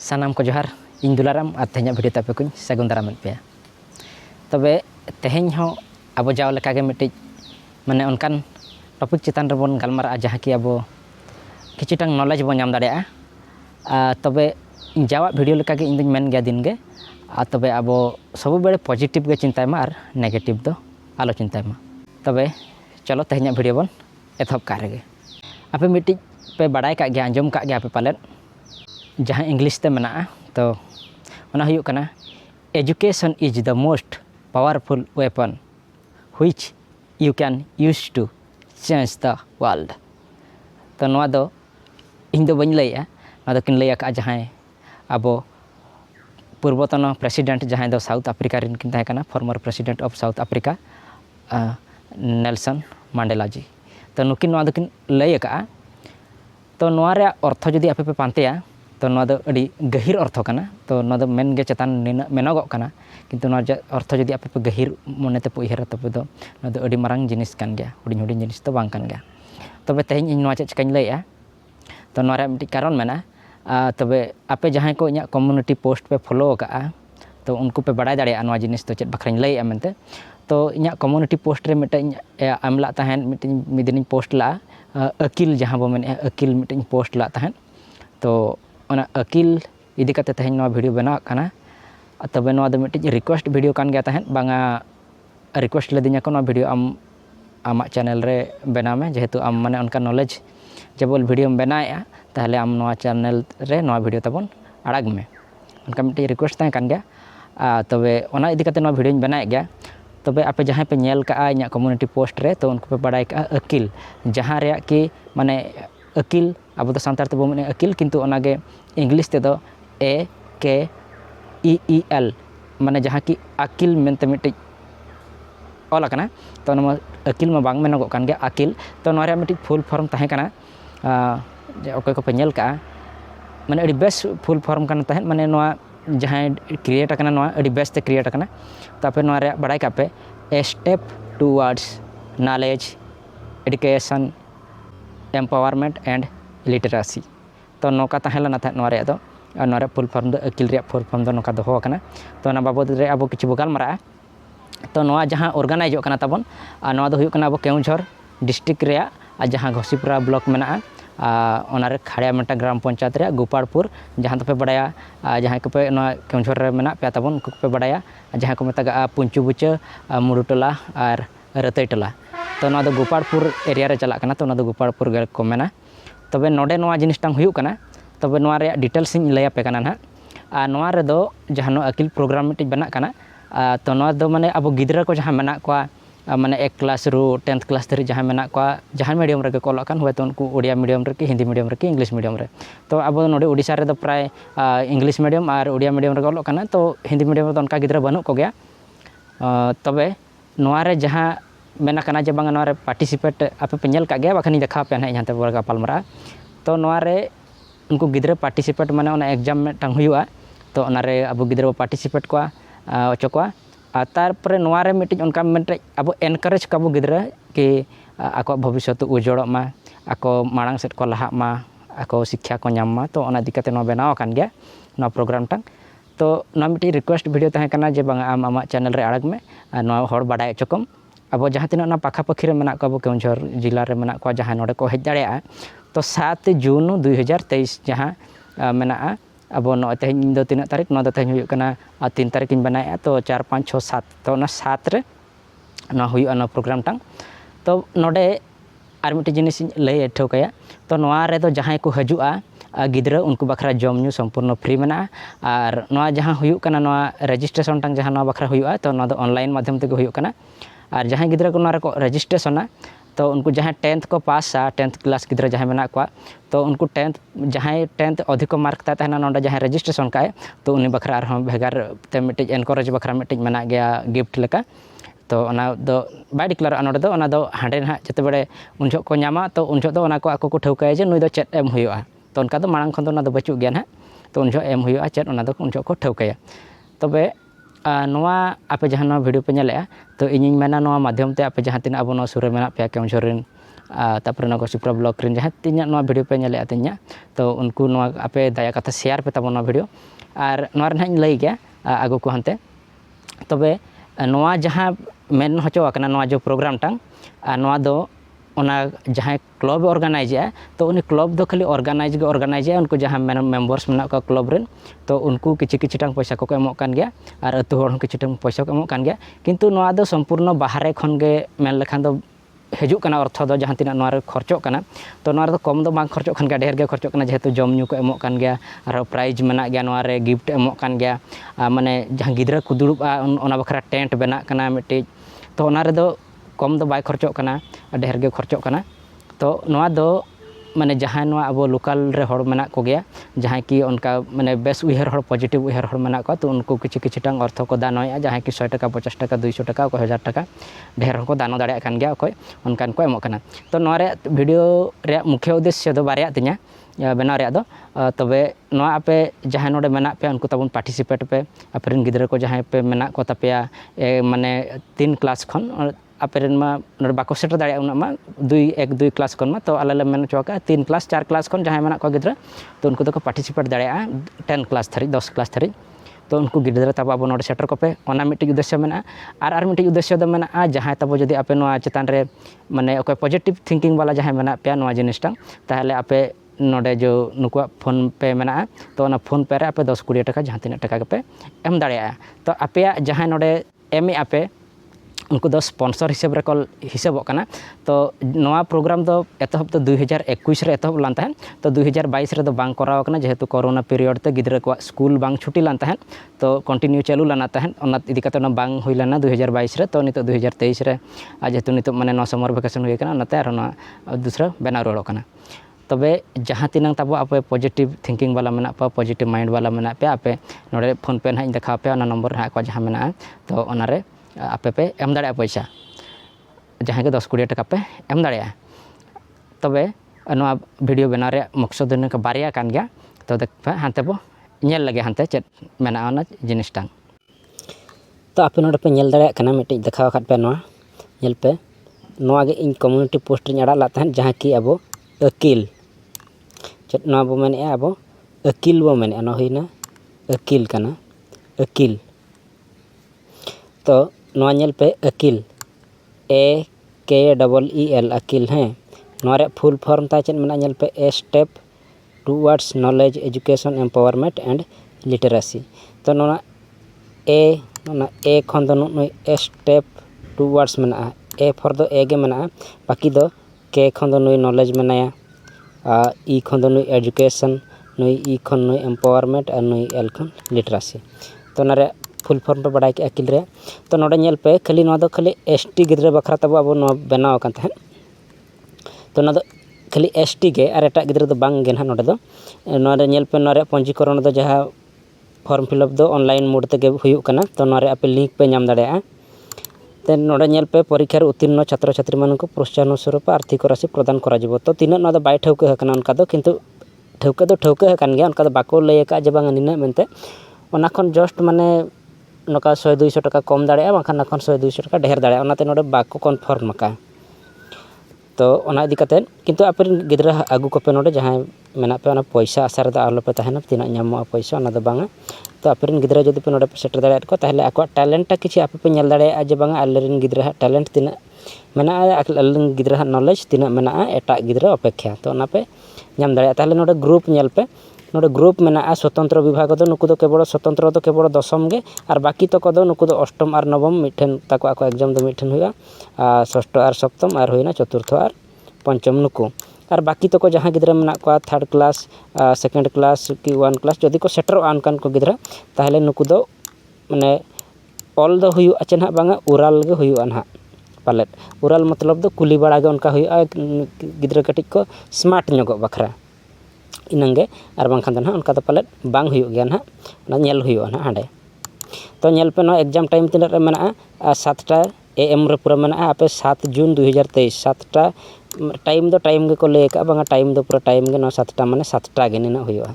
ᱥᱟᱱᱟᱢ ᱠᱚ ᱡᱚᱦᱟᱨ ᱤᱧ ᱫᱩᱞᱟᱨᱟᱢ ᱟᱨ ᱛᱮᱦᱮᱧᱟᱜ ᱵᱷᱤᱰᱤᱭᱳ ᱛᱟᱯᱮ ᱠᱚᱧ ᱥᱟᱹᱜᱩᱱ ᱫᱟᱨᱟᱢᱮᱫ ᱯᱮᱭᱟ ᱛᱚᱵᱮ ᱛᱮᱦᱮᱧ ᱦᱚᱸ ᱟᱵᱚ ᱡᱟᱣ ᱞᱮᱠᱟᱜᱮ ᱢᱤᱫᱴᱤᱡ ᱢᱟᱱᱮ ᱚᱱᱠᱟᱱ ᱴᱚᱯᱤᱠ ᱪᱮᱛᱟᱱ ᱨᱮᱵᱚᱱ ᱜᱟᱞᱢᱟᱨᱟᱜᱼᱟ ᱡᱟᱦᱟᱸ ᱠᱤ ᱟᱵᱚ ᱠᱤᱪᱷᱩᱴᱟᱝ ᱱᱚᱞᱮᱡᱽ ᱵᱚᱱ ᱧᱟᱢ ᱫᱟᱲᱮᱭᱟᱜᱼᱟ ᱟᱨ ᱛᱚᱵᱮ ᱤᱧ ᱡᱟᱣᱟᱜ ᱵᱷᱤᱰᱤᱭᱳ ᱞᱮᱠᱟᱜᱮ ᱤᱧᱫᱩᱧ ᱢᱮᱱ ᱜᱮᱭᱟ ᱫᱤᱱᱜᱮ ᱟᱨ ᱛᱚᱵᱮ ᱟᱵᱚ ᱥᱚᱵᱽ ᱵᱮᱲᱮ ᱯᱚᱡᱤᱴᱤᱵᱷ ᱜᱮ ᱪᱤᱱᱛᱟᱭ ᱢᱟ ᱟᱨ ᱱᱮᱜᱮᱴᱤᱵᱷ ᱫᱚ ᱟᱞᱚ ᱪᱤᱱᱛᱟᱭ ᱢᱟ ᱛᱚᱵᱮ ᱪᱚᱞᱚ ᱛᱮᱦᱮᱧᱟᱜ ᱵᱷᱤᱰᱤᱭᱳ ᱵᱚᱱ ᱮᱛᱚᱦᱚᱵ ᱠᱟᱜ ᱞᱮᱜᱮ ᱟᱯᱮ ᱢᱤᱫᱴᱤᱡ ᱯᱮ ᱵᱟᱲᱟᱭ ᱠᱟᱜ ᱜᱮᱭᱟ ᱟᱸᱡᱚᱢ ᱠᱟᱜ ᱜᱮᱭᱟ ᱯᱮ ᱯᱟᱞᱮᱫ ᱡᱟᱦᱟᱸ ᱤᱝᱞᱤᱥ ᱛᱮ ᱢᱮᱱᱟᱜᱼᱟ ᱛᱚ ᱚᱱᱟ ᱦᱩᱭᱩᱜ ᱠᱟᱱᱟ education is the most powerful weapon which you can use to change the world ᱛᱚ ᱱᱚᱣᱟ ᱫᱚ ᱤᱧ ᱫᱚ ᱵᱟᱹᱧ ᱞᱟᱹᱭᱮᱜᱼᱟ ᱱᱚᱣᱟ ᱫᱚᱠᱤᱱ ᱞᱟᱹᱭ ᱠᱟᱜᱼᱟ ᱡᱟᱦᱟᱸᱭ ᱟᱵᱚ ᱯᱩᱨᱵᱚᱛᱚᱱᱚ ᱯᱨᱮᱥᱤᱰᱮᱱᱴ ᱡᱟᱦᱟᱸᱭ ᱫᱚ ᱥᱟᱣᱩᱛᱷ ᱟᱯᱷᱨᱤᱠᱟ ᱨᱮᱱ ᱠᱤᱱ ᱛᱟᱦᱮᱸ ᱠᱟᱱᱟ former president of South Africa Nelson Mandela ji ᱛᱚ ᱱᱩᱠᱤᱱ ᱱᱚᱣᱟ ᱫᱚᱠᱤᱱ ᱞᱟᱹᱭ ᱟᱠᱟᱫᱼᱟ ᱛᱚ ᱱᱚᱣᱟ ᱨᱮᱭᱟᱜ ᱚᱨᱛᱷᱚ ᱡᱩᱫᱤ ᱟᱯᱮ ᱯᱮ ᱯᱟᱱᱛᱮᱭᱟ ᱛᱚ ᱱᱚᱣᱟ ᱫᱚ ᱟᱹᱰᱤ ᱜᱟᱹᱦᱤᱨ ᱚᱨᱛᱷᱚ ᱠᱟᱱᱟ ᱛᱚ ᱱᱚᱣᱟ ᱫᱚ ᱢᱮᱱ ᱜᱮ ᱪᱮᱛᱟᱱ ᱱᱤᱱᱟᱹᱜ ᱢᱮᱱᱚᱜᱚᱜ ᱠᱟᱱᱟ ᱠᱤᱱᱛᱩ ᱱᱚᱣᱟ ᱨᱮᱭᱟᱜ ᱚᱨᱛᱷᱚ ᱡᱩᱫᱤ ᱟᱯᱮ ᱯᱮ ᱜᱟᱹᱦᱤᱨ ᱢᱚᱱᱮ ᱛᱮᱯᱮ ᱩᱭᱦᱟᱹᱨᱟ ᱛᱚᱵᱮ ᱫᱚ ᱱᱚᱣᱟ ᱫᱚ ᱟᱹᱰᱤ ᱢᱟᱨᱟᱝ ᱡᱤᱱᱤᱥ ᱠᱟᱱ ᱜᱮᱭᱟ ᱦᱩᱰᱤᱧ ᱦᱩᱰᱤᱧ ᱡᱤᱱᱤᱥ ᱫᱚ ᱵᱟᱝ ᱠᱟᱱ ᱜᱮᱭᱟ ᱛᱚᱵᱮ ᱛᱮᱦᱮᱧ ᱤᱧ ᱱᱚᱣᱟ ᱪᱮᱫ ᱪᱤᱠᱟᱹᱧ ᱞᱟᱹᱭᱮᱫᱼᱟ ᱛᱚ ᱱᱚᱣᱟ ᱨᱮᱭᱟᱜ ᱢᱤᱫᱴᱤᱡ ᱠᱟᱨᱚᱱ ᱢᱮᱱᱟᱜᱼᱟ ᱟᱨ ᱛᱚᱵᱮ ᱟᱯᱮ ᱡᱟᱦᱟᱸᱭ ᱠᱚ ᱤᱧᱟᱹᱜ ᱠᱚᱢᱤᱭᱩᱱᱤᱴᱤ ᱯᱳᱥᱴ ᱯᱮ ᱯᱷᱳᱞᱳ ᱟᱠᱟᱫᱼᱟ ᱛᱚ ᱩᱱᱠᱩ ᱯᱮ ᱵᱟᱲᱟᱭ ᱫᱟᱲᱮᱭᱟᱜᱼᱟ ᱱᱚᱣᱟ ᱡᱤᱱᱤᱥ ᱫᱚ ᱪᱮᱫ ᱵᱟᱠᱷᱨᱟᱧ ᱞᱟᱹᱭᱮᱫᱼᱟ ᱢᱮᱱᱛᱮ ᱛᱚ ᱤᱧᱟᱹᱜ ᱠᱚᱢᱤᱭᱩᱱᱤᱴᱤ ᱯᱳᱥᱴ ᱨᱮ ᱢᱤᱫᱴᱮᱡ ᱤᱧ ᱮᱢ ᱞᱮᱫ ᱛᱟᱦᱮᱸᱫ ᱢᱤᱫᱴᱮᱱ ᱢᱤᱫ ᱫᱤᱱᱤᱧ ᱯᱳᱥᱴ ᱞᱮᱫᱼᱟ ᱟᱹᱠᱤᱞ ᱡᱟᱦᱟᱸ ᱵᱚᱱ ᱢᱮᱱᱮᱫᱼᱟ ᱟᱹᱠᱤᱞ ᱢᱤᱫᱴᱮᱡ ᱤᱧ ᱯᱳᱥᱴ ᱞᱮᱫ ᱛᱟᱦᱮᱸᱫ ᱛᱚ ᱚᱱᱟ ᱟᱹᱠᱤᱞ ᱤᱫᱤ ᱠᱟᱛᱮᱫ ᱛᱮᱦᱮᱧ ᱱᱚᱣᱟ ᱵᱷᱤᱰᱭᱳ ᱵᱮᱱᱟᱣᱚᱜ ᱠᱟᱱᱟ ᱛᱚᱵᱮ ᱱᱚᱣᱟ ᱫᱚ ᱢᱤᱫᱴᱤᱡ ᱨᱤᱠᱩᱭᱮᱥᱴ ᱵᱷᱤᱰᱭᱳ ᱠᱟᱱ ᱜᱮ ᱛᱟᱦᱮᱸᱫ ᱵᱟᱝᱟ ᱨᱤᱠᱩᱭᱮᱥᱴ ᱞᱮᱫᱤᱧᱟ ᱠᱚ ᱱᱚᱣᱟ ᱵᱷᱤᱰᱤᱭᱳ ᱟᱢ ᱟᱢᱟᱜ ᱪᱮᱱᱮᱞ ᱨᱮ ᱵᱮᱱᱟᱣ ᱢᱮ ᱡᱮᱦᱮᱛᱩ ᱟᱢ ᱢᱟᱱᱮ ᱚᱱᱠᱟ ᱱᱚᱞᱮᱡᱽ ᱡᱮᱵᱚᱞ ᱵᱷᱤᱰᱤᱭᱳᱢ ᱵᱮᱱᱟᱣᱮᱜᱼᱟ ᱛᱟᱦᱚᱞᱮ ᱟᱢ ᱱᱚᱣᱟ ᱪᱮᱱᱮᱞ ᱨᱮ ᱱᱚᱣᱟ ᱵᱷᱤᱰᱤᱭᱳ ᱛᱟᱵᱚᱱ ᱟᱲᱟᱜᱽ ᱢᱮ ᱚᱱᱠᱟ ᱢᱤᱫᱴᱤᱡ ᱨᱤᱠᱩᱭᱮᱥᱴ ᱛᱟᱦᱮᱸ ᱠᱟᱱ ᱜᱮᱭᱟ ᱟᱨ ᱛᱚᱵᱮ ᱚᱱᱟ ᱤᱫᱤ ᱠᱟᱛᱮᱫ ᱱᱚᱣᱟ ᱵᱷᱤᱰᱤᱭᱳᱧ ᱵᱮᱱᱟᱣᱮᱫ ᱜᱮᱭᱟ ᱛᱚᱵᱮ ᱟᱯᱮ ᱡᱟᱦᱟᱸᱭ ᱯᱮ ᱧᱮᱞ ᱠᱟᱜᱼᱟ ᱤᱧᱟᱹᱜ ᱠᱚᱢᱤᱭᱩᱱᱤᱴᱤ ᱯᱳᱥᱴ ᱨᱮ ᱛᱚ ᱩᱱᱠᱩ ᱯᱮ ᱵᱟᱲᱟᱭ ᱠᱟᱜᱼᱟ ᱟᱹᱠᱤᱞ ᱡᱟᱦᱟᱸ ᱨᱮᱭᱟᱜ ᱠᱤ ᱢᱟᱱᱮ ᱟᱹᱠᱤᱞ ᱟᱵᱚ ᱫᱚ ᱥᱟᱱᱛᱟᱲ ᱛᱮᱵᱚ ᱢᱮᱱᱮᱫᱼᱟ ᱟᱹᱠᱤᱞ ᱠᱤᱱᱛᱩ ᱚᱱᱟᱜᱮ ᱤᱝᱞᱤᱥ ᱛᱮᱫᱚ A K I I L ᱢᱟᱱᱮ ᱡᱟᱦᱟᱸ ᱠᱤ ᱟᱹᱠᱤᱞ ᱢᱮᱱᱛᱮ ᱢᱤᱫᱴᱤᱡ ᱚᱞ ᱟᱠᱟᱱᱟ ᱛᱚ ᱱᱚᱣᱟ ᱟᱹᱠᱤᱞ ᱢᱟ ᱵᱟᱝ ᱢᱮᱱᱚᱜᱚᱜ ᱠᱟᱱ ᱜᱮᱭᱟ ᱟᱹᱠᱤᱞ ᱛᱚ ᱱᱚᱣᱟ ᱨᱮᱭᱟᱜ ᱢᱤᱫᱴᱤᱡ ᱯᱷᱩᱞ ᱯᱷᱚᱨᱢ ᱛᱟᱦᱮᱸ ᱠᱟᱱᱟ ᱚᱠᱚᱭ ᱠᱚᱯᱮ ᱧᱮᱞ ᱠᱟᱜᱼᱟ ᱢᱟᱱᱮ ᱟᱹᱰᱤ ᱵᱮᱥ ᱯᱷᱩᱞ ᱯᱷᱚᱨᱢ ᱠᱟᱱ ᱛᱟᱦᱮᱸᱫ ᱢᱟᱱᱮ ᱱᱚᱣᱟ ᱡᱟᱦᱟᱸᱭ ᱠᱨᱤᱭᱮᱴ ᱟᱠᱟᱱᱟ ᱱᱚᱣᱟ ᱟᱹᱰᱤ ᱵᱮᱥ ᱛᱮ ᱠᱨᱤᱭᱮᱴ ᱟᱠᱟᱱᱟ ᱛᱟᱯᱚᱨᱮ ᱱᱚᱣᱟ ᱨᱮᱭᱟᱜ ᱵᱟᱲᱟᱭ ᱠᱟᱜ ᱯᱮ a step towards knowledge education empowerment and literacy ᱛᱚ ᱱᱚᱝᱠᱟ ᱛᱟᱦᱮᱸ ᱞᱮᱱᱟ ᱛᱟᱦᱮᱸᱫ ᱱᱚᱣᱟ ᱨᱮᱭᱟᱜ ᱫᱚ ᱟᱨ ᱱᱚᱣᱟ ᱨᱮᱭᱟᱜ ᱯᱷᱩᱞ ᱯᱷᱚᱨᱢ ᱫᱚ ᱟᱹᱠᱤᱞ ᱨᱮᱭᱟᱜ ᱯᱷᱩᱞ ᱯᱷᱚᱨᱢ ᱫᱚ ᱱᱚᱝᱠᱟ ᱫᱚᱦᱚ ᱟᱠᱟᱱᱟ ᱛᱚ ᱚᱱᱟ ᱵᱟᱵᱚᱫ ᱨᱮ ᱟᱵᱚ ᱠᱤᱪᱷᱩ ᱵᱚ ᱜᱟᱞᱢᱟᱨᱟᱜᱼᱟ ᱛᱚ ᱱᱚᱣᱟ ᱡᱟᱦᱟᱸ ᱚᱨᱜᱟᱱᱟᱭᱤᱡᱚᱜ ᱠᱟᱱᱟ ᱛᱟᱵᱚᱱ ᱟᱨ ᱱᱚᱣᱟ ᱫᱚ ᱦᱩᱭᱩᱜ ᱠᱟᱱᱟ ᱟᱵᱚ ᱠᱮᱣᱚᱱᱡᱷᱚᱨ ᱰᱤᱥᱴᱨᱤᱠ ᱨᱮᱭᱟᱜ ᱟᱨ ᱡᱟᱦᱟᱸ ᱜᱷᱚᱥᱤᱯᱩᱨᱟ ᱵᱞᱚᱠ ᱢᱮᱱᱟᱜᱼᱟ ᱟᱨ ᱚᱱᱟᱨᱮ ᱠᱷᱟᱲᱭᱟ ᱢᱮᱴᱟ ᱜᱨᱟᱢ ᱯᱚᱧᱪᱟᱭᱮᱛ ᱨᱮᱭᱟᱜ ᱜᱳᱯᱟᱲᱯᱩᱨ ᱡᱟᱦᱟᱸ ᱫᱚᱯᱮ ᱵᱟᱲᱟᱭᱟ ᱟᱨ ᱡᱟᱦᱟᱸᱭ ᱠᱚᱯᱮ ᱱᱚᱣᱟ ᱠᱮᱣᱚᱱᱡᱷᱚᱨ ᱨᱮ ᱢᱮᱱᱟᱜ ᱯᱮᱭᱟ ᱛᱟᱵᱚᱱ ᱩᱱᱠᱩ ᱠᱚᱯᱮ ᱵᱟᱲᱟᱭᱟ ᱟᱨ ᱡᱟᱦᱟᱸᱭ ᱠᱚ ᱢᱮᱛᱟᱜᱟᱜᱼᱟ ᱯᱚᱧᱪᱩ ᱵᱩᱪᱟᱹ ᱢᱩᱬᱩ ᱴᱚᱞᱟ ᱟᱨ ᱨᱟᱹᱛᱟᱹᱭ ᱴᱚᱞᱟ ᱛᱚ ᱱᱚᱣᱟ ᱫᱚ ᱜᱳᱯᱟᱲᱯᱩᱨ ᱮᱨᱤᱭᱟ ᱨᱮ ᱪᱟᱞᱟᱜ ᱠᱟᱱᱟ ᱛᱚ ᱚᱱᱟ ᱫᱚ ᱜᱳᱯᱟᱲᱯᱩᱨ ᱜᱮ ᱠᱚ ᱢᱮᱱᱟ ᱛᱚᱵᱮ ᱱᱚᱰᱮ ᱱᱚᱣᱟ ᱡᱤᱱᱤᱥ ᱴᱟᱝ ᱦᱩᱭᱩᱜ ᱠᱟᱱᱟ ᱛᱚᱵᱮ ᱱᱚᱣᱟ ᱨᱮᱭᱟᱜ ᱰᱤᱴᱮᱞᱥ ᱤᱧ ᱞᱟᱹᱭ ᱟᱯᱮ ᱠᱟᱱᱟ ᱦᱟᱸᱜ ᱟᱨ ᱱᱚᱣᱟ ᱨᱮᱫᱚ ᱡᱟᱦᱟᱸ ᱱᱚᱣᱟ ᱟᱹᱠᱤᱞ ᱯᱨᱳᱜᱨᱟᱢ ᱢᱤᱫᱴᱤᱡ ᱵᱮᱱᱟᱜ ᱠᱟᱱᱟ ᱟᱨ ᱛᱚ ᱱᱚᱣᱟ ᱫᱚ ᱢᱟᱱᱮ ᱟᱵᱚ ᱜᱤᱫᱽᱨᱟᱹ ᱠᱚ ᱡᱟᱦᱟᱸ ᱢᱮᱱᱟᱜ ᱠᱚᱣᱟ ᱢᱟᱱᱮ ᱮᱠ ᱠᱞᱟᱥ ᱨᱮ ᱴᱮᱱᱛᱷ ᱠᱞᱟᱥ ᱫᱷᱟᱹᱨᱤᱡ ᱡᱟᱦᱟᱸᱭ ᱢᱮᱱᱟᱜ ᱠᱚᱣᱟ ᱡᱟᱦᱟᱸ ᱢᱤᱰᱤᱭᱟᱢ ᱨᱮᱜᱮ ᱠᱚ ᱚᱞᱚᱜ ᱠᱟᱱ ᱦᱳᱭᱛᱳ ᱩᱱᱠᱩ ᱩᱰᱤᱭᱟ ᱢᱤᱰᱤᱭᱟᱢ ᱨᱮᱠᱤ ᱦᱤᱱᱫᱤ ᱢᱤᱰᱤᱭᱟᱢ ᱨᱮᱠᱤ ᱤᱝᱞᱤᱥ ᱢᱤᱰᱤᱭᱟᱢ ᱨᱮ ᱛᱚ ᱟᱵᱚ ᱱᱚᱰᱮ ᱳᱰᱤᱥᱟ ᱨᱮᱫᱚ ᱯᱨᱟᱭ ᱤᱝᱞᱤᱥ ᱢᱤᱰᱤᱭᱟᱢ ᱟᱨ ᱩᱰᱤᱭᱟ ᱢᱤᱰᱤᱭᱟᱢ ᱨᱮᱠᱚ ᱚᱞᱚᱜ ᱠᱟᱱᱟ ᱛᱚ ᱦᱤᱱᱫᱤ ᱢᱤᱰᱤᱭᱟᱢ ᱨᱮᱫᱚ ᱚᱱᱠᱟ ᱜᱤᱫᱽᱨᱟᱹ ᱵᱟᱹᱱᱩᱜ ᱠᱚᱜᱮᱭᱟ ᱛᱚᱵᱮ ᱱᱚᱣᱟ ᱨᱮ ᱡᱟᱦᱟᱸ ᱢᱮᱱ ᱟᱠᱟᱱᱟ ᱡᱮ ᱵᱟᱝᱟ ᱱᱚᱣᱟ ᱨᱮ ᱯᱟᱨᱴᱤᱥᱤᱯᱮᱴ ᱟᱯᱮ ᱯᱮ ᱧᱮᱞ ᱠᱟᱜ ᱜᱮᱭᱟ ᱵᱟᱠᱷᱟᱱ ᱤᱧ ᱫᱮᱠᱷᱟᱣ ᱟᱯᱮᱭᱟ ᱱᱟᱦᱟᱜ ᱤᱧ ᱦᱟᱱᱛᱮ ᱵᱚᱱ ᱜᱟᱯᱟᱞ ᱢᱟᱨᱟᱜᱼᱟ ᱛᱚ ᱱᱚᱣᱟ ᱨᱮ ᱩᱱᱠᱩ ᱜᱤᱫᱽᱨᱟᱹ ᱯᱟᱨᱴᱤᱥᱤᱯᱮᱴ ᱢᱟᱱᱮ ᱚᱱᱟ ᱮᱠᱡᱟᱢ ᱢᱤᱫᱴᱟᱝ ᱦᱩᱭᱩᱜᱼᱟ ᱛᱚ ᱚᱱᱟ ᱨᱮ ᱟᱵᱚ ᱜᱤᱫᱽᱨᱟᱹ ᱵᱚᱱ ᱯᱟᱨᱴᱤᱥᱤᱯᱮᱴ ᱠᱚᱣᱟ ᱦᱚᱪᱚ ᱠᱚᱣᱟ ᱟᱨ ᱛᱟᱨᱯᱚᱨᱮ ᱱᱚᱣᱟ ᱨᱮ ᱢᱤᱫᱴᱤᱡ ᱚᱱᱠᱟ ᱢᱤᱫᱴᱮᱡ ᱟᱵᱚ ᱮᱱᱠᱟᱨᱮᱡᱽ ᱠᱚᱣᱟ ᱵᱚᱱ ᱜᱤᱫᱽᱨᱟᱹ ᱠᱤ ᱟᱠᱚᱣᱟᱜ ᱵᱷᱚᱵᱤᱥᱥᱚᱛ ᱩᱡᱽᱡᱚᱞᱚᱜ ᱢᱟ ᱟᱠᱚ ᱢᱟᱲᱟᱝ ᱥᱮᱫ ᱠᱚ ᱞᱟᱦᱟᱜ ᱢᱟ ᱟᱠᱚ ᱥᱤᱠᱠᱷᱟ ᱠᱚ ᱧᱟᱢ ᱢᱟ ᱛᱚ ᱚᱱᱟ ᱤᱫᱤ ᱠᱟᱛᱮᱫ ᱱᱚᱣᱟ ᱵᱮᱱᱟᱣ ᱟᱠᱟᱱ ᱜᱮᱭᱟ ᱱᱚᱣᱟ ᱯᱨᱳᱜᱨᱟᱢ ᱴᱟᱜ ᱛᱚ ᱱᱚᱣᱟ ᱢᱤᱫᱴᱤᱡ ᱨᱤᱠᱩᱭᱮᱥᱴ ᱵᱷᱤᱰᱤᱭᱳ ᱛᱟᱦᱮᱸ ᱠᱟᱱᱟ ᱡᱮ ᱵᱟᱝᱟ ᱟᱢ ᱟᱢᱟᱜ ᱪᱮᱱᱮᱞ ᱨᱮ ᱟᱲᱟᱜᱽ ᱢᱮ ᱟᱨ ᱱᱚᱣᱟ ᱦᱚᱲ ᱵᱟᱰᱟᱭ ᱦᱚᱪᱚ ᱠᱚᱢ ᱟᱵᱚ ᱡᱟᱦᱟᱸ ᱛᱤᱱᱟᱹᱜ ᱚᱱᱟ ᱯᱟᱠᱷᱟ ᱯᱟᱹᱠᱷᱤ ᱨᱮ ᱢᱮᱱᱟᱜ ᱠᱚᱣᱟ ᱟᱵᱚ ᱠᱮᱣᱚᱱᱡᱷᱚᱨ ᱡᱮᱞᱟ ᱨᱮ ᱢᱮᱱᱟᱜ ᱠᱚᱣᱟ ᱡᱟᱦᱟᱸᱭ ᱱᱚᱰᱮ ᱠᱚ ᱦᱮᱡ ᱫᱟᱲᱮᱭᱟᱜᱼᱟ ᱛᱚ ᱥᱟᱛ ᱡᱩᱱ ᱫᱩᱭ ᱦᱟᱡᱟᱨ ᱛᱮᱭᱤᱥ ᱡᱟᱦᱟᱸ ᱢᱮᱱᱟᱜᱼᱟ ᱟᱵᱚ ᱱᱚᱜᱼᱚᱭ ᱛᱮᱦᱮᱧ ᱫᱚ ᱛᱤᱱᱟᱹᱜ ᱛᱟᱹᱨᱤᱠᱷ ᱱᱚᱣᱟ ᱫᱚ ᱛᱮᱦᱮᱧ ᱦᱩᱭᱩᱜ ᱠᱟᱱᱟ ᱛᱤᱱ ᱛᱟᱹᱨᱤᱠᱷ ᱤᱧ ᱵᱮᱱᱟᱣᱮᱫᱼᱟ ᱛᱚ ᱪᱟᱨ ᱯᱟᱸᱪ ᱪᱷᱚ ᱥᱟᱛ ᱛᱚ ᱚᱱᱟ ᱥᱟᱛ ᱨᱮ ᱱᱚᱣᱟ ᱦᱩᱭᱩᱜᱼᱟ ᱱᱚᱣᱟ ᱯᱨᱳᱜᱨᱟᱢ ᱴᱟᱝ ᱛᱚ ᱱᱚᱰᱮ ᱟᱨ ᱢᱤᱫᱴᱮᱱ ᱡᱤᱱᱤᱥ ᱤᱧ ᱞᱟᱹᱭ ᱴᱷᱟᱹᱣᱠᱟᱹᱭᱟ ᱛᱚ ᱱᱚᱣᱟ ᱨᱮᱫᱚ ᱡᱟᱦᱟᱸᱭ ᱠᱚ ᱦᱤᱡᱩᱜᱼᱟ ᱜᱤᱫᱽᱨᱟᱹ ᱩᱱᱠᱩ ᱵᱟᱠᱷᱨᱟ ᱡᱚᱢᱼᱧᱩ ᱥᱚᱢᱯᱩᱨᱱᱚ ᱯᱷᱨᱤ ᱢᱮᱱᱟᱜᱼᱟ ᱟᱨ ᱱᱚᱣᱟ ᱡᱟᱦᱟᱸ ᱦᱩᱭᱩᱜ ᱠᱟᱱᱟ ᱱᱚᱣᱟ ᱨᱮᱡᱤᱥᱴᱨᱮᱥᱚᱱ ᱴᱟᱝ ᱡᱟᱦᱟᱸ ᱱᱚᱣᱟ ᱵᱟᱠᱷᱨᱟ ᱦᱩᱭᱩᱜᱼᱟ ᱛᱚ ᱱᱚᱣᱟ ᱫᱚ ᱚᱱᱞᱟᱭᱤᱱ ᱢᱟᱫᱽᱫᱷᱚᱢ ᱛᱮᱜᱮ ᱦᱩᱭᱩᱜ ᱠᱟᱱᱟ ᱟᱨ ᱡᱟᱦᱟᱸᱭ ᱜᱤᱫᱽᱨᱟᱹ ᱠᱚ ᱱᱚᱣᱟ ᱨᱮᱠᱚ ᱨᱮᱡᱤᱥᱴᱨᱮᱥᱚᱱᱟ ᱛᱚ ᱩᱱᱠᱩ ᱡᱟᱦᱟᱸᱭ ᱴᱮᱱᱛᱷ ᱠᱚ ᱯᱟᱥᱟ ᱴᱮᱱᱛᱷ ᱠᱞᱟᱥ ᱜᱤᱫᱽᱨᱟᱹ ᱡᱟᱦᱟᱸᱭ ᱢᱮᱱᱟᱜ ᱠᱚᱣᱟ ᱛᱚ ᱩᱱᱠᱩ ᱴᱮᱱᱛᱷ ᱡᱟᱦᱟᱸᱭ ᱴᱮᱱᱛᱷ ᱚᱫᱷᱤᱠᱚ ᱢᱟᱨᱠ ᱛᱟᱭ ᱛᱟᱦᱮᱱᱟ ᱱᱚᱰᱮ ᱡᱟᱦᱟᱸᱭ ᱨᱮᱡᱤᱥᱴᱨᱮᱥᱚᱱ ᱠᱟᱜᱼᱟᱭ ᱛᱚ ᱩᱱᱤ ᱵᱟᱠᱷᱨᱟ ᱟᱨᱦᱚᱸ ᱵᱷᱮᱜᱟᱨ ᱛᱮ ᱢᱤᱫᱴᱤᱡ ᱮᱱᱠᱟᱨᱮᱡᱽ ᱵᱟᱠᱷᱨᱟ ᱢᱤᱫᱴᱤᱡ ᱢᱮᱱᱟᱜ ᱜᱮᱭᱟ ᱜᱤᱯᱷᱴ ᱞᱮᱠᱟ ᱛᱚ ᱚᱱᱟ ᱫᱚ ᱵᱟᱭ ᱰᱤᱠᱞᱮᱭᱟᱨᱚᱜᱼᱟ ᱱᱚᱰᱮ ᱫᱚ ᱚᱱᱟ ᱫᱚ ᱦᱟᱸᱰᱮ ᱱᱟᱦᱟᱜ ᱡᱮᱛᱮ ᱵᱟᱲᱮ ᱩᱱ ᱡᱚᱦᱚᱜ ᱠᱚ ᱧᱟᱢᱟ ᱛᱚ ᱩᱱ ᱡᱚᱦᱚᱜ ᱫᱚ ᱚᱱᱟ ᱠᱚ ᱟᱠᱚ ᱠᱚ ᱴᱷᱟᱹᱣᱠᱟᱹᱭᱟ ᱡᱮ ᱱᱩᱭ ᱫᱚ ᱪᱮᱫ ᱮᱢ ᱦᱩᱭᱩᱜᱼᱟ ᱛᱚ ᱚᱱᱠᱟ ᱫᱚ ᱢᱟᱲᱟᱝ ᱠᱷᱚᱱ ᱫᱚ ᱚᱱᱟ ᱫᱚ ᱵᱟᱹᱪᱩᱜ ᱜᱮᱭᱟ ᱱᱟᱦᱟᱜ ᱛᱚ ᱩᱱ ᱡᱚᱦᱚᱜ ᱮᱢ ᱦᱩᱭᱩᱜᱼᱟ ᱪᱮᱫ ᱚᱱᱟ ᱫᱚ ᱩᱱ ᱡᱚᱦᱚᱜ ᱠᱚ ᱴᱷᱟᱹᱣᱠᱟᱹᱭᱟ ᱛᱚᱵᱮ ᱟᱨ ᱱᱚᱣᱟ ᱟᱯᱮ ᱡᱟᱦᱟᱸ ᱱᱚᱣᱟ ᱵᱷᱤᱰᱭᱳ ᱯᱮ ᱧᱮᱞᱮᱜᱼᱟ ᱛᱚ ᱤᱧᱤᱧ ᱢᱮᱱᱟ ᱱᱚᱣᱟ ᱢᱟᱫᱽᱫᱷᱚᱢ ᱛᱮ ᱟᱯᱮ ᱡᱟᱦᱟᱸ ᱛᱤᱱᱟᱹᱜ ᱟᱵᱚ ᱱᱚᱣᱟ ᱥᱩᱨ ᱨᱮ ᱢᱮᱱᱟᱜ ᱯᱮᱭᱟ ᱠᱮᱣᱚᱱᱡᱷᱚᱨ ᱨᱮᱱ ᱟᱨ ᱛᱟᱨᱯᱚᱨᱮ ᱱᱚᱣᱟ ᱜᱚᱥᱤᱯᱩᱨᱟ ᱵᱞᱚᱠ ᱨᱮᱱ ᱡᱟᱦᱟᱸ ᱛᱤᱱᱟᱹᱜ ᱱᱚᱣᱟ ᱵᱷᱤᱰᱭᱳ ᱯᱮ ᱧᱮᱞᱮᱜᱼᱟ ᱛᱚ ᱤᱧᱟᱹᱜ ᱛᱚ ᱩᱱᱠᱩ ᱱᱚᱣᱟ ᱟᱯᱮ ᱫᱟᱭᱟ ᱠᱟᱛᱮᱫ ᱥᱮᱭᱟᱨ ᱯᱮ ᱛᱟᱵᱚᱱ ᱱᱚᱣᱟ ᱵᱷᱤᱰᱭᱳ ᱟᱨ ᱱᱚᱣᱟ ᱨᱮᱱᱟᱜ ᱤᱧ ᱞᱟᱹᱭ ᱜᱮᱭᱟ ᱟᱹᱜᱩ ᱠᱚ ᱦᱟᱱᱛᱮ ᱛᱚᱵᱮ ᱱᱚᱣᱟ ᱡᱟᱦᱟᱸ ᱢᱮᱱ ᱦᱚᱪᱚ ᱟᱠᱟᱱᱟ ᱱᱚᱣᱟ ᱡᱮ ᱯᱨᱳᱜᱨᱟᱢ ᱴᱟᱝ ᱟᱨ ᱱᱚᱣᱟ ᱫᱚ ᱚᱱᱟ ᱡᱟᱦᱟᱸᱭ ᱠᱞᱚᱵᱽ ᱚᱨᱜᱟᱱᱟᱭᱤᱡᱮᱜᱼᱟ ᱛᱚ ᱩᱱᱤ ᱠᱞᱚᱵᱽ ᱫᱚ ᱠᱷᱟᱹᱞᱤ ᱚᱨᱜᱟᱱᱟᱭᱤᱡᱽ ᱜᱮ ᱚᱨᱜᱟᱱᱟᱭᱤᱡᱮᱜᱼᱟ ᱩᱱᱠᱩ ᱡᱟᱦᱟᱸ ᱢᱮᱢᱵᱚᱨᱥ ᱢᱮᱱᱟᱜ ᱠᱚᱣᱟ ᱠᱞᱚᱵᱽ ᱨᱮᱱ ᱛᱚ ᱩᱱᱠᱩ ᱠᱤᱪᱷᱩ ᱠᱤᱪᱷᱩ ᱴᱟᱝ ᱯᱚᱭᱥᱟ ᱠᱚᱠᱚ ᱮᱢᱚᱜ ᱠᱟᱱ ᱜᱮᱭᱟ ᱟᱨ ᱟᱹᱛᱩ ᱦᱚᱲ ᱦᱚᱸ ᱠᱤᱪᱷᱩ ᱴᱟᱝ ᱯᱚᱭᱥᱟ ᱠᱚ ᱮᱢᱚᱜ ᱠᱟᱱ ᱜᱮᱭᱟ ᱠᱤᱱᱛᱩ ᱱᱚᱣᱟ ᱫᱚ ᱥᱚᱢᱯᱩᱨᱱᱚ ᱵᱟᱦᱨᱮ ᱠᱷᱚᱱ ᱜᱮ ᱢᱮᱱ ᱞᱮᱠᱷᱟᱱ ᱫᱚ ᱦᱤᱡᱩᱜ ᱠᱟᱱᱟ ᱚᱨᱛᱷᱚ ᱫᱚ ᱡᱟᱦᱟᱸ ᱛᱤᱱᱟᱹᱜ ᱱᱚᱣᱟ ᱨᱮ ᱠᱷᱚᱨᱪᱚᱜ ᱠᱟᱱᱟ ᱛᱚ ᱱᱚᱣᱟ ᱨᱮᱫᱚ ᱠᱚᱢ ᱫᱚ ᱵᱟᱝ ᱠᱷᱚᱨᱪᱚᱜ ᱠᱟᱱ ᱜᱮᱭᱟ ᱰᱷᱮᱨ ᱜᱮ ᱠᱷᱚᱨᱪᱚᱜ ᱠᱟᱱᱟ ᱡᱮᱦᱮᱛᱩ ᱡᱚᱢ ᱧᱩ ᱠᱚ ᱮᱢᱚᱜ ᱠᱟᱱ ᱜᱮᱭᱟ ᱟᱨᱚ ᱯᱨᱟᱭᱤᱡᱽ ᱢᱮᱱᱟᱜ ᱜᱮᱭᱟ ᱱᱚᱣᱟ ᱨᱮ ᱜᱤᱯᱷᱴ ᱮᱢᱚᱜ ᱠᱟᱱ ᱜᱮᱭᱟ ᱟᱨ ᱢᱟᱱᱮ ᱡᱟᱦᱟᱸ ᱜᱤᱫᱽᱨᱟᱹ ᱠᱚ ᱫᱩᱲᱩᱵᱼᱟ ᱚᱱᱟ ᱵᱟᱠᱷᱨᱟ ᱴᱮᱱᱴ ᱵᱮᱱᱟᱜ ᱠᱟᱱᱟ ᱢᱤᱫᱴᱤᱡ ᱛᱚ ᱚᱱᱟ ᱨᱮᱫᱚ ᱠᱚᱢ ᱫᱚ ᱵᱟᱭ ᱠᱷᱚᱨᱪᱚᱜ ᱠᱟᱱᱟ ᱰᱷᱮᱨ ᱜᱮ ᱠᱷᱚᱨᱪᱚᱜ ᱠᱟᱱᱟ ᱛᱚ ᱱᱚᱣᱟ ᱫᱚ ᱢᱟᱱᱮ ᱡᱟᱦᱟᱸ ᱱᱚᱣᱟ ᱟᱵᱚ ᱞᱳᱠᱟᱞ ᱨᱮ ᱦᱚᱲ ᱢᱮᱱᱟᱜ ᱠᱚᱜᱮᱭᱟ ᱡᱟᱦᱟᱸᱭ ᱠᱤ ᱚᱱᱠᱟ ᱢᱟᱱᱮ ᱵᱮᱥ ᱩᱭᱦᱟᱹᱨ ᱦᱚᱲ ᱯᱚᱡᱮᱴᱤᱵᱷ ᱩᱭᱦᱟᱹᱨ ᱦᱚᱲ ᱢᱮᱱᱟᱜ ᱠᱚᱣᱟ ᱛᱚ ᱩᱱᱠᱩ ᱠᱤᱪᱷᱩ ᱠᱤᱪᱷᱩ ᱴᱟᱝ ᱚᱨᱛᱷᱚ ᱠᱚ ᱫᱟᱱᱚᱭᱮᱜᱼᱟ ᱡᱟᱦᱟᱸᱭ ᱠᱤ ᱥᱚᱭ ᱴᱟᱠᱟ ᱯᱚᱪᱟᱥ ᱴᱟᱠᱟ ᱫᱩᱭᱥᱚ ᱴᱟᱠᱟ ᱚᱠᱚᱭ ᱦᱟᱡᱟᱨ ᱴᱟᱠᱟ ᱰᱷᱮᱨ ᱦᱚᱸᱠᱚ ᱫᱟᱱᱚ ᱫᱟᱲᱮᱭᱟᱜ ᱠᱟᱱ ᱜᱮᱭᱟ ᱚᱠᱚᱭ ᱚᱱᱠᱟᱱ ᱠᱚ ᱮᱢᱚᱜ ᱠᱟᱱᱟ ᱛᱚ ᱱᱚᱣᱟ ᱨᱮᱭᱟᱜ ᱵᱷᱤᱰᱤᱭᱳ ᱨᱮᱭᱟᱜ ᱢᱩᱠᱷᱭᱟᱹ ᱩᱫᱽᱫᱮᱥᱥᱚ ᱫᱚ ᱵᱟᱨᱭᱟᱜ ᱛᱤᱧᱟᱹ ᱵᱮᱱᱟᱣ ᱨᱮᱭᱟᱜ ᱫᱚ ᱛᱚᱵᱮ ᱱᱚᱣᱟ ᱟᱯᱮ ᱡᱟᱦᱟᱸᱭ ᱱᱚᱰᱮ ᱢᱮᱱᱟᱜ ᱯᱮᱭᱟ ᱩᱱᱠᱩ ᱛᱟᱵᱚᱱ ᱯᱟᱨᱴᱤᱥᱤᱯᱮᱴ ᱯᱮ ᱟᱯᱮ ᱨᱮᱱ ᱜᱤᱫᱽᱨᱟᱹ ᱠᱚ ᱡᱟᱦᱟᱸᱭ ᱯᱮ ᱢᱮᱱᱟᱜ ᱠᱚ ᱛᱟᱯᱮᱭᱟ ᱢᱟᱱᱮ ᱛᱤᱱ ᱠᱞᱟᱥ ᱠᱷᱚᱱ ᱟᱯᱮ ᱨᱮᱱ ᱢᱟ ᱱᱚᱰᱮ ᱵᱟᱠᱚ ᱥᱮᱴᱮᱨ ᱫᱟᱲᱮᱭᱟᱜᱼᱟ ᱩᱱᱟᱹᱜ ᱢᱟ ᱫᱩᱭ ᱮᱠ ᱫᱩᱭ ᱠᱞᱟᱥ ᱠᱷᱚᱱ ᱢᱟ ᱛᱚ ᱟᱞᱮ ᱞᱮ ᱢᱮᱱ ᱦᱚᱪᱚ ᱠᱟᱜᱼᱟ ᱛᱤᱱ ᱠᱞᱟᱥ ᱪᱟᱨ ᱠᱞᱟᱥ ᱠᱷᱚᱱ ᱡᱟᱦᱟᱸᱭ ᱢᱮᱱᱟᱜ ᱠᱚᱣᱟ ᱜᱤᱫᱽᱨᱟᱹ ᱛᱚ ᱩᱱᱠᱩ ᱫᱚᱠᱚ ᱯᱟᱨᱴᱤᱥᱤᱯᱮᱴ ᱫᱟᱲᱮᱭᱟᱜᱼᱟ ᱴᱮᱱ ᱠᱞᱟᱥ ᱫᱷᱟᱹᱨᱤᱡ ᱫᱚᱥ ᱠᱞᱟᱥ ᱫᱷᱟᱹᱨᱤᱡ ᱛᱚ ᱩᱱᱠᱩ ᱜᱤᱫᱽᱨᱟᱹ ᱛᱟᱵᱚ ᱟᱵᱚ ᱱᱚᱰᱮ ᱥᱮᱴᱮᱨ ᱠᱚᱯᱮ ᱚᱱᱟ ᱢᱤᱫᱴᱤᱡ ᱩᱫᱽᱫᱮᱥᱥᱚ ᱢᱮᱱᱟᱜᱼᱟ ᱟᱨ ᱟᱨ ᱢᱤᱫᱴᱤᱡ ᱩᱫᱽᱫᱮᱥᱥᱚ ᱫᱚ ᱢᱮᱱᱟᱜᱼᱟ ᱡᱟᱦᱟᱸᱭ ᱛᱟᱵᱚ ᱡᱩᱫᱤ ᱟᱯᱮ ᱱᱚᱣᱟ ᱪᱮᱛᱟᱱ ᱨᱮ ᱢᱟᱱᱮ ᱚᱠᱚᱭ ᱯᱚᱡᱮᱴᱤᱵᱷ ᱛᱷᱤᱝᱠᱤᱝ ᱵᱟᱞᱟ ᱡᱟᱦᱟᱸᱭ ᱢᱮᱱᱟᱜ ᱯᱮᱭᱟ ᱱᱚᱣᱟ ᱡᱤᱱᱤᱥᱴᱟ ᱛᱟᱦᱚᱞᱮ ᱟᱯᱮ ᱱᱚᱰᱮ ᱡᱚ ᱱᱩᱠᱩᱣᱟᱜ ᱯᱷᱳᱱ ᱯᱮ ᱢᱮᱱᱟᱜᱼᱟ ᱛᱚ ᱚᱱᱟ ᱯᱷᱳᱱ ᱯᱮ ᱨᱮ ᱟᱯᱮ ᱫᱚᱥ ᱠᱩᱲᱤ ᱴᱟᱠᱟ ᱡᱟᱦᱟᱸ ᱛᱤᱱᱟᱹᱜ ᱴᱟᱠᱟ ᱜᱮᱯᱮ ᱮᱢ ᱫᱟᱲᱮᱭᱟᱜᱼᱟ ᱛᱚ ᱟᱯᱮᱭᱟᱜ ᱡᱟᱦᱟᱸᱭ ᱱᱚᱰᱮ ᱮᱢᱮᱜ ᱟᱯᱮ ᱩᱱᱠᱩ ᱫᱚ ᱥᱯᱚᱱᱥᱚᱨ ᱦᱤᱥᱟᱹᱵ ᱨᱮᱠᱚ ᱦᱤᱥᱟᱹᱵᱚᱜ ᱠᱟᱱᱟ ᱛᱚ ᱱᱚᱣᱟ ᱯᱨᱳᱜᱨᱟᱢ ᱫᱚ ᱮᱛᱚᱦᱚᱵ ᱫᱚ ᱫᱩᱭ ᱦᱟᱡᱟᱨ ᱮᱠᱩᱥ ᱨᱮ ᱮᱛᱚᱦᱚᱵ ᱞᱮᱱ ᱛᱟᱦᱮᱸᱫ ᱛᱚ ᱫᱩᱭ ᱦᱟᱡᱟᱨ ᱵᱟᱭᱤᱥ ᱨᱮᱫᱚ ᱵᱟᱝ ᱠᱚᱨᱟᱣ ᱠᱟᱱᱟ ᱡᱮᱦᱮᱛᱩ ᱠᱳᱨᱳᱱᱟ ᱯᱤᱨᱤᱭᱚᱰ ᱛᱮ ᱜᱤᱫᱽᱨᱟᱹ ᱠᱚᱣᱟᱜ ᱥᱠᱩᱞ ᱵᱟᱝ ᱪᱷᱩᱴᱤ ᱞᱮᱱ ᱛᱟᱦᱮᱸᱫ ᱛᱚ ᱠᱚᱱᱴᱤᱱᱤᱭᱩ ᱪᱟᱹᱞᱩ ᱞᱮᱱᱟ ᱛᱟᱦᱮᱸᱫ ᱚᱱᱟ ᱤᱫᱤ ᱠᱟᱛᱮ ᱚᱱᱟ ᱵᱟᱝ ᱦᱩᱭ ᱞᱮᱱᱟ ᱫᱩ ᱦᱟᱡᱟᱨ ᱵᱟᱭᱤᱥ ᱨᱮ ᱛᱚ ᱱᱤᱛᱚᱜ ᱫᱩ ᱦᱟᱡᱟᱨ ᱛᱮᱭᱤᱥ ᱨᱮ ᱟᱨ ᱡᱮᱦᱮᱛᱩ ᱱᱤᱛᱚᱜ ᱢᱟᱱᱮ ᱱᱚᱣᱟ ᱥᱟᱢᱟᱨ ᱵᱷᱮᱠᱮᱥᱚᱱ ᱦᱩᱭ ᱠᱟᱱᱟ ᱚᱱᱟᱛᱮ ᱟᱨᱦᱚᱸ ᱱᱚᱣᱟ ᱫᱚᱥᱨᱟ ᱵᱮᱱᱟᱣ ᱨᱩᱣᱟᱹᱲᱚᱜ ᱠᱟᱱᱟ ᱛᱚᱵᱮ ᱡᱟᱦᱟᱸ ᱛᱤᱱᱟᱹᱜ ᱛᱟᱵᱚ ᱟᱯᱮ ᱯᱚᱡᱮᱴᱤᱵᱽ ᱛᱷᱤᱝᱠᱤᱝ ᱵᱟᱞᱟ ᱢᱮᱱᱟᱜ ᱯᱮᱭᱟ ᱯᱚᱡᱮᱴᱤᱵᱽ ᱢᱟᱭᱤᱱᱰ ᱵᱟᱞᱟ ᱢᱮᱱᱟᱜ ᱯᱮᱭᱟ ᱟᱯᱮ ᱱᱚᱰᱮ ᱯᱷᱳᱱ ᱯᱮ ᱱᱟᱦᱟᱜ ᱤᱧ ᱫᱮᱠᱷᱟᱣ ᱯᱮᱭᱟ ᱚᱱᱟ ᱱᱚᱢᱵᱚᱨ ᱱᱟᱦᱟᱜ ᱟᱠᱚᱣᱟᱜ ᱡᱟᱦᱟᱸ ᱢᱮᱱᱟᱜᱼᱟ ᱛᱚ ᱚᱱᱟᱨᱮ ᱟᱯᱮ ᱯᱮ ᱮᱢ ᱫᱟᱲᱮᱭᱟᱜᱼᱟ ᱯᱚᱭᱥᱟ ᱡᱟᱦᱟᱸᱭ ᱜᱮ ᱫᱚᱥ ᱠᱩᱲᱤ ᱦᱟᱡᱟᱨ ᱴᱟᱠᱟ ᱯᱮ ᱮᱢ ᱫᱟᱲᱮᱭᱟᱜᱼᱟ ᱛᱚᱵᱮ ᱱᱚᱣᱟ ᱵᱷᱤᱰᱭᱳ ᱵᱮᱱᱟᱣ ᱨᱮᱭᱟᱜ ᱢᱚᱠᱥᱚᱫ ᱫᱚ ᱱᱤᱭᱟᱹ ᱵᱟᱨᱭᱟ ᱠᱟᱱ ᱜᱮᱭᱟ ᱛᱚ ᱫᱮᱠᱷ ᱯᱮ ᱦᱟᱱᱛᱮ ᱵᱚ ᱧᱮᱞ ᱞᱮᱜᱮ ᱦᱟᱱᱛᱮ ᱪᱮᱫ ᱢᱮᱱᱟᱜᱼᱟ ᱚᱱᱟ ᱡᱤᱱᱤᱥᱴᱟᱝ ᱛᱚ ᱟᱯᱮ ᱱᱚᱰᱮ ᱯᱮ ᱧᱮᱞ ᱫᱟᱲᱮᱭᱟᱜ ᱠᱟᱱᱟ ᱢᱤᱫᱴᱤᱡ ᱫᱮᱠᱷᱟᱣ ᱟᱠᱟᱫ ᱯᱮᱭᱟ ᱱᱚᱣᱟ ᱧᱮᱞ ᱯᱮ ᱱᱚᱣᱟ ᱜᱮ ᱤᱧ ᱠᱚᱢᱤᱭᱩᱱᱤᱴᱤ ᱯᱳᱥᱴ ᱨᱤᱧ ᱟᱲᱟᱜ ᱞᱮᱫ ᱛᱟᱦᱮᱸᱫ ᱡᱟᱦᱟᱸ ᱠᱤ ᱟᱵᱚ ᱟᱹᱠᱤᱞ ᱪᱮᱫ ᱱᱚᱣᱟ ᱵᱚ ᱢᱮᱱᱮᱫᱼᱟ ᱟᱵᱚ ᱟᱹᱠᱤᱞ ᱵᱚ ᱢᱮᱱᱮᱫᱼᱟ ᱱᱚᱣᱟ ᱦᱩᱭᱱᱟ ᱟᱹᱠᱤᱞ ᱠᱟᱱᱟ ᱟᱹᱠᱤᱞ ᱛᱚ ᱱᱚᱣᱟ ᱧᱮᱞ ᱯᱮ ᱟᱹᱠᱤᱞ A K double E L ᱟᱹᱠᱤᱞ ᱦᱮᱸ ᱱᱚᱣᱟ ᱨᱮᱭᱟᱜ ᱯᱷᱩᱞ ᱯᱷᱚᱨᱢ ᱛᱟᱭ ᱪᱮᱫ ᱢᱮᱱᱟᱜᱼᱟ ᱧᱮᱞ ᱯᱮ step towards knowledge education empowerment and literacy ᱛᱳ ᱱᱚᱣᱟ ᱮ ᱚᱱᱟ ᱮ ᱠᱷᱚᱱ ᱫᱚ ᱱᱩᱜᱼᱩ ᱱᱩᱭ ᱥᱴᱮᱯ ᱴᱩᱣᱟᱨᱰᱥ ᱢᱮᱱᱟᱜᱼᱟ ᱮ ᱯᱷᱳᱨ ᱫᱚ ᱮ ᱜᱮ ᱢᱮᱱᱟᱜᱼᱟ ᱵᱟᱹᱠᱤ ᱫᱚ ᱠᱮ ᱠᱷᱚᱱ ᱫᱚ ᱱᱩᱭ ᱱᱚᱞᱮᱡᱽ ᱢᱮᱱᱟᱭᱟ ᱟᱨ ᱤ ᱠᱷᱚᱱ ᱫᱚ ᱱᱩᱭ ᱮᱰᱩᱠᱮᱥᱚᱱ ᱱᱩᱭ ᱤ ᱠᱷᱚᱱ ᱱᱩᱭ ᱮᱢᱯᱟᱣᱟᱨᱢᱮᱱᱴ ᱟᱨ ᱱᱩᱭ ᱮᱞ ᱠᱷᱚᱱ ᱞᱤᱴᱟᱨᱮᱥᱤ ᱛᱳ ᱚᱱᱟ ᱨᱮᱭᱟᱜ ᱯᱷᱩᱞ ᱯᱷᱚᱨᱢ ᱯᱮ ᱵᱟᱲᱟᱭ ᱠᱮᱫᱼᱟ ᱟᱹᱠᱤᱞ ᱨᱮᱭᱟᱜ ᱛᱳ ᱱᱚᱰᱮ ᱧᱮᱞ ᱯᱮ ᱠᱷᱟᱹᱞᱤ ᱱᱚᱣᱟ ᱫᱚ ᱠᱷᱟᱹᱞᱤ ᱮᱥ ᱴᱤ ᱜᱤᱫᱽᱨᱟᱹ ᱵᱟᱠᱷᱨᱟ ᱛᱮᱵᱚ ᱟᱵᱚ ᱱᱚᱣᱟ ᱵᱮᱱᱟᱣ ᱟᱠᱟᱱ ᱛᱟᱦᱮᱸᱫ ᱛᱳ ᱚᱱᱟᱫᱚ ᱠᱷᱟᱹᱞᱤ ᱮᱥ ᱴᱤ ᱜᱮ ᱟᱨ ᱮᱴᱟᱜ ᱜᱤᱫᱽᱨᱟᱹ ᱫᱚ ᱵᱟᱝᱜᱮ ᱦᱟᱸᱜ ᱱᱚᱸᱰᱮ ᱫᱚ ᱱᱚᱣᱟ ᱨᱮ ᱧᱮᱞ ᱯᱮ ᱱᱚᱣᱟ ᱨᱮᱭᱟᱜ ᱯᱚᱧᱡᱤᱠᱚᱨᱚᱱ ᱫᱚ ᱡᱟᱦᱟᱸ ᱯᱷᱨᱚᱢ ᱯᱷᱤᱞᱟᱯ ᱫᱚ ᱚᱱᱞᱟᱭᱤᱱ ᱢᱳᱰ ᱛᱮᱜᱮ ᱦᱩᱭᱩᱜ ᱠᱟᱱᱟ ᱛᱳ ᱱᱚᱣᱟ ᱨᱮ ᱟᱯᱮ ᱞᱤᱝᱠ ᱯᱮ ᱧᱟᱢ ᱫᱟᱲᱮᱭᱟᱜᱼᱟ ᱛᱳ ᱱᱚᱸᱰᱮ ᱧᱮᱞ ᱯᱮ ᱯᱚᱨᱤᱠᱠᱷᱟ ᱨᱮ ᱩᱛᱛᱤᱨᱱᱚ ᱪᱷᱟᱛᱨᱚ ᱪᱷᱟᱛᱨᱤ ᱢᱟᱱ ᱠᱚ ᱯᱨᱚᱥᱪᱟᱦᱚᱱ ᱥᱚᱨᱩᱯ ᱟᱨᱛᱷᱤᱠᱚ ᱨᱟᱥᱤ ᱯᱨᱚᱫᱟᱱ ᱠᱚᱨᱟ ᱡᱤᱵᱚ ᱛᱳ ᱛᱤᱱᱟᱹᱜ ᱱᱚᱣᱟ ᱫᱚ ᱵᱟᱭ ᱴᱷᱟᱹᱣᱠᱟᱹ ᱟᱠᱟᱱᱟ ᱚᱱᱠᱟ ᱫᱚ ᱠᱤᱱᱛᱩ ᱴᱷᱟᱹᱣᱠᱟᱹ ᱫᱚ ᱴᱷᱟᱹᱣᱠᱟᱹ ᱟᱠᱟᱱ ᱜᱮᱭᱟ ᱚᱱᱠᱟ ᱫᱚ ᱵᱟᱠᱚ ᱞᱟᱹᱭ ᱟᱠᱟᱫᱼᱟ ᱡᱮ ᱵᱟᱝ ᱱᱤᱱᱟᱹᱜ ᱢᱮᱱᱛᱮ ᱚᱱᱟ ᱠᱷᱚᱱ ᱡᱟᱥᱴ ᱢᱟᱱᱮ ᱱᱚᱝᱠᱟ ᱥᱚᱭ ᱫᱩᱭ ᱥᱚ ᱴᱟᱠᱟ ᱠᱚᱢ ᱫᱟᱲᱮᱭᱟᱜᱼᱟ ᱵᱟᱝᱠᱷᱟᱱ ᱚᱱᱟ ᱠᱷᱚᱱ ᱥᱚᱭ ᱫᱩᱭ ᱥᱚ ᱴᱟᱠᱟ ᱰᱷᱮᱨ ᱫᱟᱲᱮᱭᱟᱜᱼᱟ ᱚᱱᱟᱛᱮ ᱱᱚᱸᱰᱮ ᱵᱟᱠᱚ ᱠᱚᱱᱯᱷᱟᱨᱢ ᱟᱠᱟᱫᱼᱟ ᱛᱚ ᱚᱱᱟ ᱤᱫᱤ ᱠᱟᱛᱮᱫ ᱠᱤᱱᱛᱩ ᱟᱯᱮ ᱨᱮᱱ ᱜᱤᱫᱽᱨᱟᱹ ᱦᱟᱸᱜ ᱟᱹᱜᱩ ᱠᱚᱯᱮ ᱱᱚᱰᱮ ᱡᱟᱦᱟᱸᱭ ᱢᱮᱱᱟᱜ ᱯᱮᱭᱟ ᱚᱱᱟ ᱯᱚᱭᱥᱟ ᱟᱥᱟ ᱨᱮᱫᱚ ᱟᱞᱚ ᱯᱮ ᱛᱟᱦᱮᱱᱟ ᱛᱤᱱᱟᱹᱜ ᱧᱟᱢᱚᱜᱼᱟ ᱯᱚᱭᱥᱟ ᱚᱱᱟ ᱫᱚ ᱵᱟᱝᱟ ᱛᱚ ᱟᱯᱮ ᱨᱮᱱ ᱜᱤᱫᱽᱨᱟᱹ ᱡᱩᱫᱤ ᱯᱮ ᱱᱚᱰᱮ ᱯᱮ ᱥᱮᱴᱮᱨ ᱫᱟᱲᱮᱭᱟᱫ ᱠᱚᱣᱟ ᱛᱟᱦᱚᱞᱮ ᱟᱠᱚᱣᱟᱜ ᱴᱮᱞᱮᱱᱴ ᱟᱜ ᱠᱤᱪᱷᱩ ᱟᱯᱮ ᱯᱮ ᱧᱮᱞ ᱫᱟᱲᱮᱭᱟᱜᱼᱟ ᱡᱮ ᱵᱟᱝᱟ ᱟᱞᱮ ᱨᱮᱱ ᱜᱤᱫᱽᱨᱟᱹ ᱦᱟᱸᱜ ᱴᱮᱞᱮᱱᱴ ᱛᱤᱱᱟᱹᱜ ᱢᱮᱱᱟᱜᱼᱟ ᱟᱞᱮ ᱨᱮᱱ ᱜᱤᱫᱽᱨᱟᱹ ᱦᱟᱸᱜ ᱱᱚᱞᱮᱡᱽ ᱛᱤᱱᱟᱹᱜ ᱢᱮᱱᱟᱜᱼᱟ ᱮᱴᱟᱜ ᱜᱤᱫᱽᱨᱟᱹ ᱚᱯᱮᱠᱠᱷᱟ ᱛᱚ ᱚᱱᱟ ᱯᱮ ᱧᱟᱢ ᱫᱟᱲᱮᱭᱟᱜᱼᱟ ᱛᱟᱦᱚᱞᱮ ᱱᱚᱰᱮ ᱜᱨᱩᱯ ᱧᱮᱞ ᱯᱮ ᱱᱚᱰᱮ ᱜᱨᱩᱯ ᱢᱮᱱᱟᱜᱼᱟ ᱥᱚᱛᱚᱱᱛᱨᱚ ᱵᱤᱵᱷᱟᱜᱽ ᱨᱮᱫᱚ ᱱᱩᱠᱩ ᱫᱚ ᱠᱮᱵᱚᱞ ᱥᱚᱛᱚᱱᱛᱨᱚ ᱫᱚ ᱠᱮᱵᱚᱞ ᱫᱚᱥᱚᱢ ᱜᱮ ᱟᱨ ᱵᱟᱹᱠᱤ ᱛᱚᱠᱚ ᱫᱚ ᱱᱩᱠᱩ ᱫᱚ ᱚᱥᱴᱚᱢ ᱟᱨ ᱱᱚᱵᱚᱢ ᱢᱤᱫᱴᱷᱮᱱ ᱛᱟᱠᱚ ᱟᱠᱚᱣᱟᱜ ᱮᱠᱡᱟᱢ ᱫᱚ ᱢᱤᱫᱴᱷᱮᱱ ᱦᱩᱭᱩᱜᱼᱟ ᱟᱨ ᱥᱚᱥᱴᱚ ᱟᱨ ᱥᱚᱯᱛᱚᱢ ᱟᱨ ᱦᱩᱭᱱᱟ ᱪᱚᱛᱩᱨᱛᱷᱚ ᱟᱨ ᱯᱚᱧᱪᱚᱢ ᱱᱩᱠᱩ ᱟᱨ ᱵᱟᱹᱠᱤ ᱛᱟᱠᱚ ᱡᱟᱦᱟᱸᱭ ᱜᱤᱫᱽᱨᱟᱹ ᱢᱮᱱᱟᱜ ᱠᱚᱣᱟ ᱛᱷᱟᱨᱰ ᱠᱞᱟᱥ ᱟᱨ ᱥᱮᱠᱮᱱᱰ ᱠᱞᱟᱥ ᱠᱤ ᱚᱣᱟᱱ ᱠᱞᱟᱥ ᱡᱩᱫᱤ ᱠᱚ ᱥᱮᱴᱮᱨᱚᱜᱼᱟ ᱚᱱᱠᱟᱱ ᱠᱚ ᱜᱤᱫᱽᱨᱟᱹ ᱛᱟᱦᱚᱞᱮ ᱱᱩᱠᱩ ᱫᱚ ᱢᱟᱱᱮ ᱚᱞ ᱫᱚ ᱦᱩᱭᱩᱜ ᱟᱥᱮ ᱦᱟᱸᱜ ᱵᱟᱝᱟ ᱳᱨᱟᱞ ᱜᱮ ᱦᱩᱭᱩᱜᱼᱟ ᱦᱟᱸᱜ ᱯᱟᱞᱮᱫ ᱳᱨᱟᱞ ᱢᱚᱛᱞᱚᱵ ᱫᱚ ᱠᱩᱞᱤ ᱵᱟᱲᱟ ᱜᱮ ᱚᱱᱠᱟ ᱦᱩᱭᱩᱜᱼᱟ ᱜᱤᱫᱽᱨᱟᱹ ᱠᱟᱹᱴᱤᱡ ᱠᱚ ᱥᱢᱟᱨᱴ ᱧᱚᱜᱚᱜ ᱵᱟᱠᱷᱨᱟ ᱤᱱᱟᱹᱜᱮ ᱟᱨ ᱵᱟᱝᱠᱷᱟᱱ ᱫᱚ ᱦᱟᱸᱜ ᱚᱱᱠᱟ ᱫᱚ ᱯᱟᱞᱮᱫ ᱵᱟᱝ ᱦᱩᱭᱩᱜ ᱜᱮᱭᱟ ᱦᱟᱸᱜ ᱚᱱᱟ ᱧᱮᱞ ᱦᱩᱭᱩᱜᱼᱟ ᱦᱟᱸᱜ ᱦᱟᱸᱰᱮ ᱛᱚ ᱧᱮᱞ ᱯᱮ ᱱᱚᱣᱟ ᱮᱠᱡᱟᱢ ᱴᱟᱭᱤᱢ ᱛᱤᱱᱟᱹᱜ ᱨᱮ ᱢᱮᱱᱟᱜᱼᱟ ᱟᱨ ᱥᱟᱛᱴᱟ ᱮ ᱮᱢ ᱨᱮ ᱯᱩᱨᱟᱹ ᱢᱮᱱᱟᱜᱼᱟ ᱟᱯᱮ ᱥᱟᱛ ᱡᱩᱱ ᱫᱩ ᱦᱟᱡᱟᱨ ᱛᱮᱭᱤᱥ ᱥᱟᱛᱴᱟ ᱴᱟᱭᱤᱢ ᱫᱚ ᱴᱟᱭᱤᱢ ᱜᱮᱠᱚ ᱞᱟᱹᱭ ᱠᱟᱜᱼᱟ ᱵᱟᱝᱟ ᱴᱟᱭᱤᱢ ᱫᱚ ᱯᱩᱨᱟᱹ ᱴᱟᱭᱤᱢ ᱜᱮ ᱱᱚᱣᱟ ᱥᱟᱛᱴᱟ ᱢᱟᱱᱮ ᱥᱟᱛᱴᱟ ᱜᱮ ᱱᱤᱱᱟᱹᱜ ᱦᱩᱭᱩᱜᱼᱟ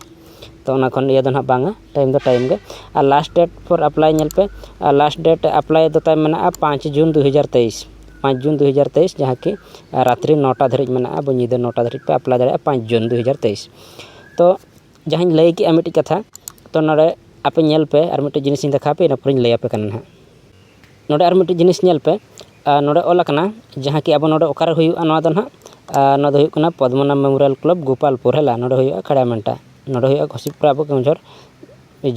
ᱛᱚ ᱚᱱᱟ ᱠᱷᱚᱱ ᱤᱭᱟᱹ ᱫᱚ ᱦᱟᱸᱜ ᱵᱟᱝᱟ ᱴᱟᱭᱤᱢ ᱫᱚ ᱴᱟᱭᱤᱢ ᱜᱮ ᱟᱨ ᱞᱟᱥᱴ ᱰᱮᱴ ᱯᱷᱳᱨ ᱮᱯᱞᱟᱭ ᱧᱮᱞ ᱯᱮ ᱟᱨ ᱞᱟᱥᱴ ᱰᱮᱴ ᱮᱯᱞᱟᱭ ᱫᱚ ᱛᱟᱭ ᱢᱮᱱᱟᱜᱼᱟ ᱯᱟᱸᱪ ᱡᱩᱱ ᱫᱩ ᱦᱟᱡᱟᱨ ᱛᱮᱭᱤᱥ ᱯᱟᱸᱪ ᱡᱩᱱ ᱫᱩ ᱦᱟᱡᱟᱨ ᱛᱮᱭᱤᱥ ᱡᱟᱦᱟᱸ ᱠᱤ ᱨᱟᱛᱨᱤ ᱱᱚᱴᱟ ᱫᱷᱟᱹᱨᱤᱡ ᱢᱮᱱᱟᱜᱼᱟ ᱧᱤᱫᱟᱹ ᱱᱚᱴᱟ ᱫᱷᱟᱹᱨᱤᱡ ᱯᱮ ᱮᱯᱞᱟᱭ ᱫᱟᱲᱮᱭᱟᱜᱼᱟ ᱯᱟᱸᱪ ᱡᱩᱱ ᱫᱩ ᱦᱟᱡᱟᱨ ᱛᱮᱭᱤᱥ ᱛᱚ ᱡᱟᱦᱟᱸᱧ ᱞᱟᱹᱭ ᱠᱮᱜᱼᱟ ᱢᱤᱫᱴᱤᱡ ᱠᱟᱛᱷᱟ ᱛᱚ ᱱᱚᱰᱮ ᱟᱯᱮ ᱧᱮᱞ ᱯᱮ ᱟᱨ ᱢᱤᱫᱴᱤᱡ ᱡᱤᱱᱤᱥ ᱤᱧ ᱫᱮᱠᱷᱟᱣ ᱯᱮ ᱤᱱᱟᱹ ᱯᱚᱨᱮᱧ ᱞᱟᱹᱭ ᱟᱯᱮ ᱠᱟᱱᱟ ᱦᱟᱸᱜ ᱱᱚᱰᱮ ᱟᱨ ᱢᱤᱫᱴᱤᱡ ᱡᱤᱱᱤᱥ ᱧᱮᱞ ᱯᱮ ᱟᱨ ᱱᱚᱰᱮ ᱚᱞ ᱟᱠᱟᱱᱟ ᱡᱟᱦᱟᱸ ᱠᱤ ᱟᱵᱚ ᱱᱚᱰᱮ ᱚᱠᱟᱨᱮ ᱦᱩᱭᱩᱜᱼᱟ ᱱᱚᱣᱟ ᱫᱚ ᱦᱟᱸᱜ ᱟᱨ ᱱᱚᱣᱟ ᱫᱚ ᱦᱩᱭᱩᱜ ᱠᱟᱱᱟ ᱯᱚᱫᱽᱢᱚᱱᱟ ᱢᱮᱢᱳᱨᱤᱭᱟᱞ ᱠᱞᱟᱵᱽ ᱜᱳᱯᱟᱞᱯᱩᱨ ᱦᱮᱞᱟ ᱱᱚᱰᱮ ᱦᱩᱭᱩᱜᱼᱟ ᱠᱷᱟᱲᱟ ᱢᱟᱱᱴᱟ ᱱᱚᱰᱮ ᱦᱩᱭᱩᱜᱼᱟ ᱜᱚᱥᱤᱯᱩᱨᱟ ᱟᱵᱚ ᱠᱮᱣᱚᱱᱡᱷᱚᱲ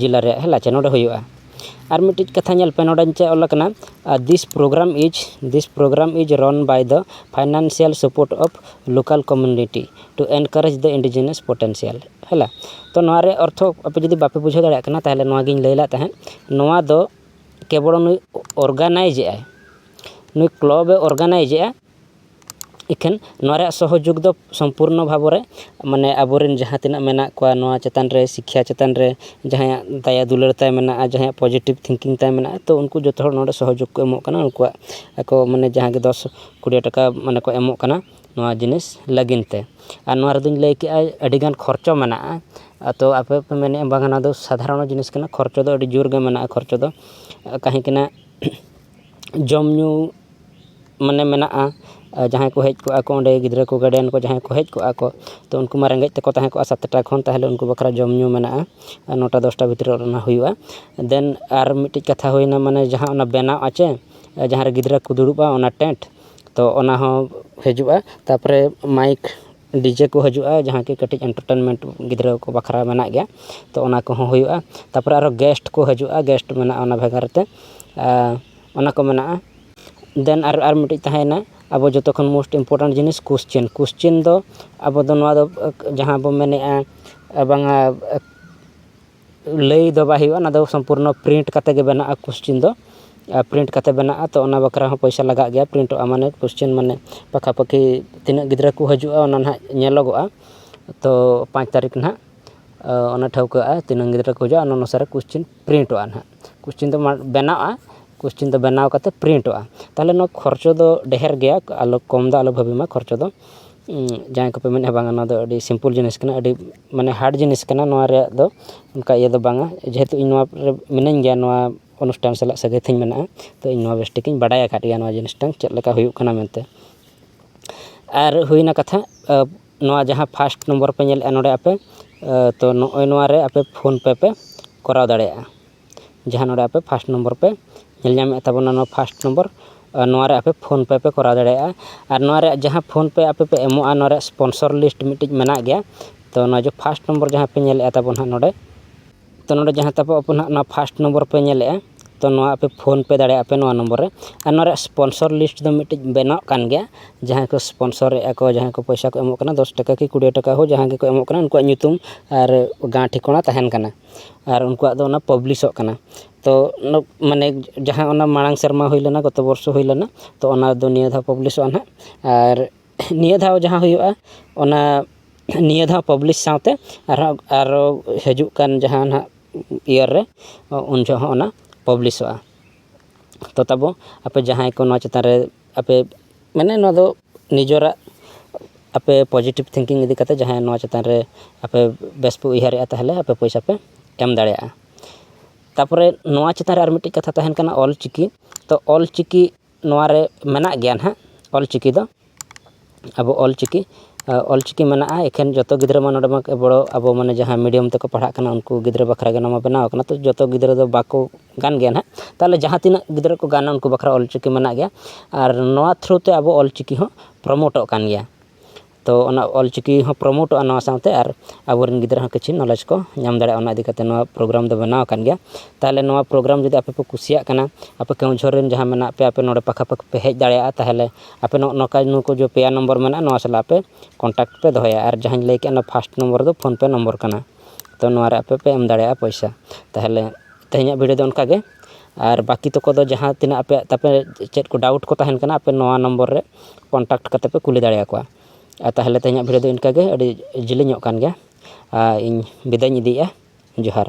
ᱡᱮᱞᱟ ᱨᱮᱭᱟᱜ ᱦᱮᱞᱟ ᱪᱮ ᱱᱚᱰᱮ ᱦᱩᱭᱩᱜᱼᱟ ᱟᱨ ᱢᱤᱫᱴᱤᱡ ᱠᱟᱛᱷᱟ ᱧᱮᱞ ᱯᱮ ᱱᱚᱰᱮ ᱪᱮᱫ ᱚᱞ ᱟᱠᱟᱱᱟ ᱟᱨ this program is this program is run by the financial support of local community to encourage the indigenous potential ᱦᱮᱞᱟ ᱛᱚ ᱱᱚᱣᱟ ᱨᱮᱭᱟᱜ ᱚᱨᱛᱷᱚ ᱟᱯᱮ ᱡᱩᱫᱤ ᱵᱟᱯᱮ ᱵᱩᱡᱷᱟᱹᱣ ᱫᱟᱲᱮᱭᱟᱜ ᱠᱟᱱᱟ ᱛᱟᱦᱚᱞᱮ ᱱᱚᱣᱟ ᱜᱮᱧ ᱞᱟᱹᱭ ᱞᱮᱫ ᱛᱟᱦᱮᱸᱫ ᱱᱚᱣᱟ ᱫᱚ ᱠᱮᱵᱚᱞ ᱱᱩᱭ ᱚᱨᱜᱟᱱᱟᱭᱤᱡᱽ ᱮᱫᱟᱭ ᱱᱩᱭ ᱠᱞᱚᱵᱽ ᱮ ᱚᱨᱜᱟᱱᱟᱭᱤᱡᱽ ᱮᱫᱟ ᱤᱠᱷᱟᱹᱱ ᱱᱚᱣᱟ ᱨᱮᱭᱟᱜ ᱥᱚᱦᱚᱡᱳᱜᱽ ᱫᱚ ᱥᱚᱢᱯᱩᱨᱱᱚ ᱵᱷᱟᱵᱽ ᱨᱮ ᱢᱟᱱᱮ ᱟᱵᱚ ᱨᱮᱱ ᱡᱟᱦᱟᱸ ᱛᱤᱱᱟᱹᱜ ᱢᱮᱱᱟᱜ ᱠᱚᱣᱟ ᱱᱚᱣᱟ ᱪᱮᱛᱟᱱ ᱨᱮ ᱥᱤᱠᱠᱷᱟ ᱪᱮᱛᱟᱱ ᱨᱮ ᱡᱟᱦᱟᱸᱭᱟᱜ ᱫᱟᱭᱟ ᱫᱩᱞᱟᱹᱲ ᱛᱟᱭ ᱢᱮᱱᱟᱜᱼᱟ ᱡᱟᱦᱟᱸᱭᱟᱜ ᱯᱚᱡᱮᱴᱤᱵᱷ ᱛᱷᱤᱝᱠᱤᱝ ᱛᱟᱭ ᱢᱮᱱᱟᱜᱼᱟ ᱛᱚ ᱩᱱᱠᱩ ᱡᱚᱛᱚ ᱦᱚᱲ ᱱᱚᱰᱮ ᱥᱚᱦᱚᱡᱳᱜᱽ ᱠᱚ ᱮᱢᱚᱜ ᱠᱟᱱᱟ ᱩᱱᱠᱩᱣᱟᱜ ᱟᱠᱚ ᱢᱟᱱᱮ ᱡᱟᱦᱟᱸ ᱜᱮ ᱫᱚᱥ ᱠᱩᱲᱤ ᱴᱟᱠᱟ ᱢᱟᱱᱮ ᱠᱚ ᱮᱢᱚᱜ ᱠᱟᱱᱟ ᱱᱚᱣᱟ ᱡᱤᱱᱤᱥ ᱞᱟᱹᱜᱤᱫ ᱛᱮ ᱟᱨ ᱱᱚᱣᱟ ᱨᱮᱫᱚᱧ ᱞᱟᱹᱭ ᱠᱮᱫᱼᱟ ᱟᱹᱰᱤᱜᱟᱱ ᱠᱷᱚᱨᱪᱟ ᱢᱮᱱᱟᱜᱼᱟ ᱟᱫᱚ ᱟᱯᱮ ᱯᱮ ᱢᱮᱱᱮᱫᱼᱟ ᱵᱟᱝᱟ ᱱᱚᱣᱟ ᱫᱚ ᱥᱟᱫᱷᱟᱨᱚᱱ ᱡᱤᱱᱤᱥ ᱠᱟᱱᱟ ᱠᱷᱚᱨᱪᱟ ᱫᱚ ᱟᱹᱰᱤ ᱡᱳᱨᱜᱮ ᱢᱮᱱᱟᱜᱼᱟ ᱠᱷᱚᱨᱪᱟ ᱫᱚ ᱛᱟᱦᱮᱸ ᱠᱟᱱᱟ ᱡᱚᱢ ᱧᱩ ᱢᱟᱱᱮ ᱢᱮᱱᱟᱜᱼᱟ ᱡᱟᱦᱟᱸᱭ ᱠᱚ ᱦᱮᱡ ᱠᱚᱜᱼᱟ ᱠᱚ ᱚᱸᱰᱮ ᱜᱤᱫᱽᱨᱟᱹ ᱠᱚ ᱜᱟᱨᱰᱮᱱ ᱠᱚ ᱡᱟᱦᱟᱸᱭ ᱠᱚ ᱦᱮᱡ ᱠᱚᱜᱼᱟ ᱠᱚ ᱛᱳ ᱩᱱᱠᱩ ᱢᱟ ᱨᱮᱸᱜᱮᱡ ᱛᱮᱠᱚ ᱛᱟᱦᱮᱸ ᱠᱚᱜᱼᱟ ᱥᱟᱛᱴᱟ ᱠᱷᱚᱱ ᱛᱟᱦᱚᱞᱮ ᱩᱱᱠᱩ ᱵᱟᱠᱷᱨᱟ ᱡᱚᱢ ᱧᱩ ᱢᱮᱱᱟᱜᱼᱟ ᱟᱨ ᱱᱚᱴᱟ ᱫᱚᱥᱴᱟ ᱵᱷᱤᱛᱨᱤ ᱨᱮ ᱚᱱᱟ ᱦᱩᱭᱩᱜᱼᱟ ᱫᱮᱱ ᱟᱨ ᱢᱤᱫᱴᱤᱡ ᱠᱟᱛᱷᱟ ᱦᱩᱭᱱᱟ ᱢᱟᱱᱮ ᱡᱟᱦᱟᱸ ᱚᱱᱟ ᱵᱮᱱᱟᱣ ᱟᱜ ᱪᱮ ᱡᱟᱦᱟᱸᱨᱮ ᱜᱤᱫᱽᱨᱟᱹ ᱠᱚ ᱫᱩᱲᱩᱵᱼᱟ ᱚᱱᱟ ᱴᱮᱱᱴ ᱛᱚ ᱚᱱᱟ ᱦᱚᱸ ᱦᱤᱡᱩᱜᱼᱟ ᱛᱟᱨᱯᱚᱨᱮ ᱢᱟᱭᱤᱠ ᱰᱤᱡᱮ ᱠᱚ ᱦᱤᱡᱩᱜᱼᱟ ᱡᱟᱦᱟᱸ ᱠᱤ ᱠᱟᱹᱴᱤᱡ ᱮᱱᱴᱟᱨᱴᱮᱱᱢᱮᱱᱴ ᱜᱤᱫᱽᱨᱟᱹ ᱠᱚ ᱵᱟᱠᱷᱨᱟ ᱢᱮᱱᱟᱜ ᱜᱮᱭᱟ ᱛᱚ ᱚᱱᱟ ᱠᱚᱦᱚᱸ ᱦᱩᱭᱩᱜᱼᱟ ᱛᱟᱨᱯᱚᱨᱮ ᱟᱨᱚ ᱜᱮᱥᱴ ᱠᱚ ᱦᱤᱡᱩᱜᱼᱟ ᱜᱮᱥᱴ ᱢᱮᱱᱟᱜᱼᱟ ᱚᱱᱟ ᱵᱷᱟᱜᱟᱨ ᱛᱮ ᱟᱨ ᱚᱱᱟ ᱠᱚ ᱢᱮᱱᱟᱜᱼᱟ ᱫᱮᱱ ᱟᱨ ᱟᱨ ᱢᱤᱫᱴᱤᱡ ᱛᱟᱦᱮᱸᱭᱮᱱᱟ ᱟᱵᱚ ᱡᱚᱛᱚ ᱠᱷᱚᱱ ᱢᱳᱥᱴ ᱤᱢᱯᱳᱨᱴᱮᱱᱴ ᱡᱤᱱᱤᱥ ᱠᱚᱥᱪᱮᱱ ᱠᱚᱥᱪᱮᱱ ᱫᱚ ᱟᱵᱚ ᱫᱚ ᱱᱚᱣᱟ ᱫᱚ ᱡᱟᱦᱟᱸ ᱵᱚᱱ ᱢᱮᱱᱮᱫᱼᱟ ᱵᱟᱝᱟ ᱞᱟᱹᱭ ᱫᱚ ᱵᱟᱭ ᱦᱩᱭᱩᱜᱼᱟ ᱚᱱᱟ ᱫᱚ ᱥᱚᱢᱯᱩᱨᱱᱚ ᱯᱨᱤᱱᱴ ᱠᱟᱛᱮᱫ ᱜᱮ ᱵᱮᱱᱟᱜᱼᱟ ᱠᱚᱥᱪᱮᱱ ᱫᱚ ᱟᱨ ᱯᱨᱤᱱᱴ ᱠᱟᱛᱮᱫ ᱵᱮᱱᱟᱜᱼᱟ ᱛᱳ ᱚᱱᱟ ᱵᱟᱠᱷᱨᱟ ᱦᱚᱸ ᱯᱚᱭᱥᱟ ᱞᱟᱜᱟᱜ ᱜᱮᱭᱟ ᱯᱨᱤᱱᱴᱚᱜᱼᱟ ᱢᱟᱱᱮ ᱠᱚᱥᱪᱮᱱ ᱢᱟᱱᱮ ᱯᱟᱠᱷᱟ ᱯᱟᱹᱠᱷᱤ ᱛᱤᱱᱟᱹᱜ ᱜᱤᱫᱽᱨᱟᱹ ᱠᱚ ᱦᱤᱡᱩᱜᱼᱟ ᱚᱱᱟ ᱱᱟᱦᱟᱜ ᱧᱮᱞᱚᱜᱚᱜᱼᱟ ᱛᱳ ᱯᱟᱸᱪ ᱛᱟᱹᱨᱤᱠᱷ ᱱᱟᱦᱟᱜ ᱚᱱᱟ ᱴᱷᱟᱹᱣᱠᱟᱹᱜᱼᱟ ᱛᱤᱱᱟᱹᱜ ᱜᱤᱫᱽᱨᱟᱹ ᱠᱚ ᱦᱤᱡᱩᱜᱼᱟ ᱚᱱᱟ ᱚᱱᱩᱥᱟᱨᱮ ᱠᱚᱥᱪᱮᱱ ᱯᱨᱤᱱᱴᱚᱜᱼᱟ ᱱᱟᱦᱟᱜ ᱠᱚᱥᱪᱟᱱ ᱫᱚ ᱵᱮᱱᱟᱜᱼᱟ ᱠᱚᱥᱪᱟᱱ ᱫᱚ ᱵᱮᱱᱟᱣ ᱠᱟᱛᱮ ᱯᱨᱤᱱᱴᱚᱜᱼᱟ ᱛᱟᱦᱚᱞᱮ ᱱᱚᱣᱟ ᱠᱷᱚᱨᱪᱟ ᱫᱚ ᱰᱷᱮᱨ ᱜᱮᱭᱟ ᱟᱞᱚ ᱠᱚᱢ ᱫᱚ ᱟᱞᱚ ᱵᱷᱟᱹᱵᱤ ᱢᱟ ᱠᱷᱚᱨᱪᱟ ᱫᱚ ᱡᱟᱦᱟᱸᱭ ᱠᱚᱯᱮ ᱢᱮᱱᱮᱫᱼᱟ ᱵᱟᱝ ᱱᱚᱣᱟ ᱫᱚ ᱟᱹᱰᱤ ᱥᱤᱢᱯᱤᱞ ᱡᱤᱱᱤᱥ ᱠᱟᱱᱟ ᱟᱹᱰᱤ ᱢᱟᱱᱮ ᱦᱟᱨᱰ ᱡᱤᱱᱤᱥ ᱠᱟᱱᱟ ᱱᱚᱣᱟ ᱨᱮᱭᱟᱜ ᱫᱚ ᱚᱱᱠᱟ ᱤᱭᱟᱹ ᱫᱚ ᱵᱟᱝᱟ ᱡᱮᱦᱮᱛᱩ ᱤᱧ ᱱᱚᱣᱟ ᱠᱚᱨᱮ ᱢᱤᱱᱟᱹᱧ ᱜᱮᱭᱟ ᱱᱚᱣᱟ ᱚᱱᱩᱥᱴᱷᱟᱱ ᱥᱟᱞᱟᱜ ᱥᱟᱹᱜᱟᱹᱭ ᱛᱤᱧ ᱢᱮᱱᱟᱜᱼᱟ ᱛᱳ ᱤᱧ ᱱᱚᱣᱟ ᱵᱮᱥ ᱴᱷᱤᱠ ᱤᱧ ᱵᱟᱰᱟᱭ ᱟᱠᱟᱫ ᱜᱮᱭᱟ ᱱᱚᱣᱟ ᱡᱤᱱᱤᱥᱴᱟ ᱪᱮᱫ ᱞᱮᱠᱟ ᱦᱩᱭᱩᱜ ᱠᱟᱱᱟ ᱢᱮᱱᱛᱮ ᱟᱨ ᱦᱩᱭᱱᱟ ᱠᱟᱛᱷᱟ ᱱᱚᱣᱟ ᱡᱟᱦᱟᱸ ᱯᱷᱟᱥᱴ ᱱᱚᱢᱵᱚᱨ ᱯᱮ ᱧᱮᱞᱮᱫᱼᱟ ᱱᱚᱰᱮ ᱟᱯᱮ ᱛᱚ ᱱᱚᱜᱼᱚᱭ ᱱᱚᱣᱟ ᱨᱮ ᱟᱯᱮ ᱯᱷᱳᱱ ᱯᱮ ᱯᱮ ᱠᱚᱨᱟᱣ ᱫᱟᱲᱮᱭᱟᱜᱼᱟ ᱡᱟᱦᱟᱸ ᱱᱚᱰᱮ ᱟᱯᱮ ᱯᱷᱟᱥᱴ ᱱᱚᱢᱵᱚᱨ ᱯᱮ ᱧᱮᱞ ᱧᱟᱢᱮᱫ ᱛᱟᱵᱚᱱᱟ ᱱᱚᱣᱟ ᱯᱷᱟᱥᱴ ᱱᱚᱢᱵᱚᱨ ᱱᱚᱣᱟ ᱨᱮ ᱟᱯᱮ ᱯᱷᱳᱱ ᱯᱮ ᱯᱮ ᱠᱚᱨᱟᱣ ᱫᱟᱲᱮᱭᱟᱜᱼᱟ ᱟᱨ ᱱᱚᱣᱟ ᱨᱮᱭᱟᱜ ᱡᱟᱦᱟᱸ ᱯᱷᱳᱱ ᱯᱮ ᱟᱯᱮ ᱯᱮ ᱮᱢᱚᱜᱼᱟ ᱱᱚᱣᱟ ᱨᱮᱭᱟᱜ ᱥᱯᱳᱱᱥᱚᱨ ᱞᱤᱥᱴ ᱢᱤᱫᱴᱤᱡ ᱢᱮᱱᱟᱜ ᱜᱮᱭᱟ ᱛᱚ ᱱᱚᱣᱟ ᱡᱮ ᱯᱷᱟᱥᱴ ᱱᱚᱢᱵᱚᱨ ᱡᱟᱦᱟᱸ ᱯᱮ ᱧᱮᱞᱮᱫᱼᱟ ᱛᱟᱵᱚᱱ ᱦᱟᱸᱜ ᱱᱚᱰᱮ ᱛᱳ ᱱᱚᱰᱮ ᱡᱟᱦᱟᱸ ᱛᱟᱵᱚ ᱟᱵᱚ ᱱᱟᱦᱟᱜ ᱚᱱᱟ ᱯᱷᱟᱥᱴ ᱱᱚᱢᱵᱚᱨ ᱯᱮ ᱧᱮᱞᱮᱜᱼᱟ ᱛᱳ ᱱᱚᱣᱟ ᱟᱯᱮ ᱯᱷᱳᱱ ᱯᱮ ᱫᱟᱲᱮᱭᱟᱜᱼᱟ ᱯᱮ ᱱᱚᱣᱟ ᱱᱚᱢᱵᱚᱨ ᱨᱮ ᱟᱨ ᱱᱚᱣᱟ ᱨᱮᱭᱟᱜ ᱥᱯᱚᱱᱥᱚᱨ ᱞᱤᱥᱴ ᱫᱚ ᱢᱤᱫᱴᱤᱡ ᱵᱮᱱᱟᱜ ᱠᱟᱱ ᱜᱮᱭᱟ ᱡᱟᱦᱟᱸᱭ ᱠᱚ ᱥᱯᱚᱱᱥᱚᱨᱮᱜᱼᱟ ᱠᱚ ᱡᱟᱦᱟᱸᱭ ᱠᱚ ᱯᱚᱭᱥᱟ ᱠᱚ ᱮᱢᱚᱜ ᱠᱟᱱᱟ ᱫᱚᱥ ᱴᱟᱠᱟ ᱠᱤ ᱠᱩᱲᱤ ᱴᱟᱠᱟ ᱦᱳᱠ ᱡᱟᱦᱟᱸ ᱜᱮᱠᱚ ᱮᱢᱚᱜ ᱠᱟᱱᱟ ᱩᱱᱠᱩᱣᱟᱜ ᱧᱩᱛᱩᱢ ᱟᱨ ᱜᱟᱶ ᱴᱷᱤᱠᱟᱹᱱᱟ ᱛᱟᱦᱮᱱ ᱠᱟᱱᱟ ᱟᱨ ᱩᱱᱠᱩᱣᱟᱜ ᱫᱚ ᱚᱱᱟ ᱯᱟᱵᱽᱞᱤᱥᱚᱜ ᱠᱟᱱᱟ ᱛᱳ ᱢᱟᱱᱮ ᱡᱟᱦᱟᱸ ᱚᱱᱟ ᱢᱟᱲᱟᱝ ᱥᱮᱨᱢᱟ ᱦᱩᱭ ᱞᱮᱱᱟ ᱜᱚᱛᱚ ᱵᱚᱨᱥᱚ ᱦᱩᱭ ᱞᱮᱱᱟ ᱛᱳ ᱚᱱᱟ ᱫᱚ ᱱᱤᱭᱟᱹ ᱫᱷᱟᱣ ᱯᱟᱵᱽᱞᱤᱥᱚᱜᱼᱟ ᱦᱟᱸᱜ ᱟᱨ ᱱᱤᱭᱟᱹ ᱫᱷᱟᱣ ᱡᱟᱦᱟᱸ ᱦᱩᱭᱩᱜᱼᱟ ᱚᱱᱟ ᱱᱤᱭᱟᱹ ᱫᱷᱟᱣ ᱯᱟᱵᱽᱞᱤᱥ ᱥᱟᱶᱛᱮ ᱟᱨᱦᱚᱸ ᱟᱨᱚ ᱦᱤᱡᱩᱜ ᱠᱟᱱ ᱡᱟᱦᱟᱸ ᱱᱟᱦᱟᱜ ᱤᱭᱟᱨ ᱨᱮ ᱩᱱ ᱡᱚᱦᱚᱜ ᱦᱚᱸ ᱚᱱᱟ ᱯᱟᱵᱽᱞᱤᱥᱚᱜᱼᱟ ᱛᱳ ᱛᱟᱵᱚ ᱟᱯᱮ ᱡᱟᱦᱟᱸᱭ ᱠᱚ ᱱᱚᱣᱟ ᱪᱮᱛᱟᱱ ᱨᱮ ᱟᱯᱮ ᱢᱟᱱᱮ ᱱᱚᱣᱟ ᱫᱚ ᱱᱤᱡᱮᱨᱟᱜ ᱟᱯᱮ ᱯᱚᱡᱮᱴᱤᱵᱽ ᱛᱷᱤᱝᱠᱤᱝ ᱤᱫᱤ ᱠᱟᱛᱮᱫ ᱡᱟᱦᱟᱸᱭ ᱱᱚᱣᱟ ᱪᱮᱛᱟᱱ ᱨᱮ ᱟᱯᱮ ᱵᱮᱥ ᱯᱮ ᱩᱭᱦᱟᱹᱨᱮᱫᱼᱟ ᱛᱟᱦᱚᱞᱮ ᱟᱯᱮ ᱯᱚᱭᱥᱟ ᱯᱮ ᱮᱢ ᱫᱟᱲᱮᱭᱟᱜᱼᱟ ᱛᱟᱨᱯᱚᱨᱮ ᱱᱚᱣᱟ ᱪᱮᱛᱟᱱ ᱨᱮ ᱟᱨ ᱢᱤᱫᱴᱤᱡ ᱠᱟᱛᱷᱟ ᱛᱟᱦᱮᱱ ᱠᱟᱱᱟ ᱚᱞᱪᱤᱠᱤ ᱛᱳ ᱚᱞᱪᱤᱠᱤ ᱱᱚᱣᱟᱨᱮ ᱢᱮᱱᱟᱜ ᱜᱮᱭᱟ ᱱᱟᱜ ᱚᱞ ᱪᱤᱠᱤ ᱫᱚ ᱟᱵᱚ ᱚᱞ ᱪᱤᱠᱤ ᱚᱞ ᱪᱤᱠᱤ ᱢᱮᱱᱟᱜᱼᱟ ᱮᱠᱷᱮᱱ ᱡᱚᱛᱚ ᱜᱤᱫᱽᱨᱟᱹ ᱢᱟ ᱱᱚᱰᱮ ᱢᱟ ᱵᱚᱲᱚ ᱟᱵᱚ ᱢᱟᱱᱮ ᱡᱟᱦᱟᱸ ᱢᱤᱰᱤᱭᱟᱢ ᱛᱮᱠᱚ ᱯᱟᱲᱦᱟᱜ ᱠᱟᱱᱟ ᱩᱱᱠᱩ ᱜᱤᱫᱽᱨᱟᱹ ᱵᱟᱠᱷᱨᱟ ᱜᱮ ᱱᱚᱣᱟ ᱵᱮᱱᱟᱣ ᱠᱟᱱᱟ ᱛᱚ ᱡᱚᱛᱚ ᱜᱤᱫᱽᱨᱟᱹ ᱫᱚ ᱵᱟᱠᱚ ᱜᱟᱱ ᱜᱮᱭᱟ ᱱᱟᱜ ᱛᱟᱦᱚᱞᱮ ᱡᱟᱦᱟᱸ ᱛᱤᱱᱟᱹᱜ ᱜᱤᱫᱽᱨᱟᱹ ᱠᱚ ᱜᱟᱱᱟ ᱩᱱᱠᱩ ᱵᱟᱠᱷᱨᱟ ᱚᱞ ᱪᱤᱠᱤ ᱢᱮᱱᱟᱜ ᱜᱮᱭᱟ ᱟᱨ ᱱᱚᱣᱟ ᱛᱷᱨᱩ ᱛᱮ ᱟᱵᱚ ᱚᱞ ᱪᱤᱠᱤ ᱦᱚᱸ ᱯᱨᱳᱢᱳᱴᱚᱜ ᱠᱟᱱ ᱜᱮᱭᱟ ᱛᱚ ᱚᱱᱟ ᱚᱞᱪᱤᱠᱤ ᱦᱚᱸ ᱯᱨᱳᱢᱳᱴᱚᱜᱼᱟ ᱱᱚᱣᱟ ᱥᱟᱶᱛᱮ ᱟᱨ ᱟᱵᱚᱨᱮᱱ ᱜᱤᱫᱽᱨᱟᱹ ᱦᱚᱸ ᱠᱤᱪᱷᱩ ᱱᱚᱞᱮᱡᱽ ᱠᱚ ᱧᱟᱢ ᱫᱟᱲᱮᱭᱟᱜᱼᱟ ᱚᱱᱟ ᱤᱫᱤ ᱠᱟᱛᱮ ᱱᱚᱣᱟ ᱯᱨᱳᱜᱨᱟᱢ ᱫᱚ ᱵᱮᱱᱟᱣ ᱟᱠᱟᱱ ᱜᱮᱭᱟ ᱛᱟᱦᱚᱞᱮ ᱱᱚᱣᱟ ᱯᱨᱳᱜᱨᱟᱢ ᱡᱩᱫᱤ ᱟᱯᱮ ᱯᱮ ᱠᱩᱥᱤᱭᱟᱜ ᱠᱟᱱᱟ ᱟᱯᱮ ᱠᱮᱣᱚᱱᱡᱷᱚᱨ ᱨᱮᱱ ᱡᱟᱦᱟᱸᱭ ᱢᱮᱱᱟᱜ ᱯᱮᱭᱟ ᱟᱯᱮ ᱱᱚᱰᱮ ᱯᱟᱠᱷᱟ ᱯᱟᱹᱠᱷᱤ ᱯᱮ ᱦᱮᱡ ᱫᱟᱲᱮᱭᱟᱜᱼᱟ ᱛᱟᱦᱚᱞᱮ ᱟᱯᱮ ᱱᱚᱜᱼᱚ ᱱᱚᱝᱠᱟ ᱱᱩᱠᱩ ᱡᱮ ᱯᱮᱭᱟ ᱱᱚᱢᱵᱚᱨ ᱢᱮᱱᱟᱜᱼᱟ ᱱᱚᱣᱟ ᱥᱟᱞᱟᱜ ᱯᱮ ᱠᱚᱱᱴᱟᱠᱴ ᱯᱮ ᱫᱚᱦᱚᱭᱟ ᱟᱨ ᱡᱟᱦᱟᱧ ᱞᱟᱹᱭ ᱠᱮᱫ ᱚᱱᱟ ᱯᱷᱟᱥᱴ ᱱᱚᱢᱵᱚᱨ ᱫᱚ ᱯᱷᱳᱱ ᱯᱮᱹ ᱱᱚᱢᱵᱚᱨ ᱠᱟᱱᱟ ᱛᱚ ᱱᱚᱣᱟ ᱨᱮ ᱟᱯᱮ ᱯᱮ ᱮᱢ ᱫᱟᱲᱮᱭᱟᱜᱼᱟ ᱯᱚᱭᱥᱟ ᱛᱟᱦᱚᱞᱮ ᱛᱮᱦᱮᱧᱟᱜ ᱵᱷᱤᱰᱭᱳ ᱫᱚ ᱚᱱᱠᱟ ᱜᱮ ᱟᱨ ᱵᱟᱹᱠᱤ ᱛᱚᱠᱚ ᱫᱚ ᱡᱟᱦᱟᱸ ᱛᱤᱱᱟᱹᱜ ᱟᱯᱮᱭᱟᱜ ᱛᱟᱯᱮ ᱪᱮᱫ ᱠᱚ ᱰᱟᱣᱩᱴ ᱠᱚ ᱛᱟᱦᱮᱱ ᱠᱟᱱᱟ ᱟᱯᱮ ᱱᱚᱣᱟ ᱱᱚᱢᱵᱚᱨ ᱨᱮ ᱠᱚᱱᱴᱟᱠᱴ ᱠᱟᱛᱮᱫ ᱯᱮ ᱠᱩᱞᱤ ᱫᱟᱲᱮ ᱟᱠᱚᱣᱟ ᱟᱨ ᱛᱟᱦᱚᱞᱮ ᱛᱮᱦᱮᱧᱟᱜ ᱵᱷᱤᱰᱤᱭᱳ ᱫᱚ ᱤᱱᱠᱟᱹᱜᱮ ᱟᱹᱰᱤ ᱡᱤᱞᱤᱧᱚᱜ ᱠᱟᱱ ᱜᱮᱭᱟ ᱟᱨ ᱤᱧ ᱵᱤᱫᱟᱹᱭᱤᱧ ᱤᱫᱤᱭᱮᱫᱼᱟ ᱡᱚᱦᱟᱨ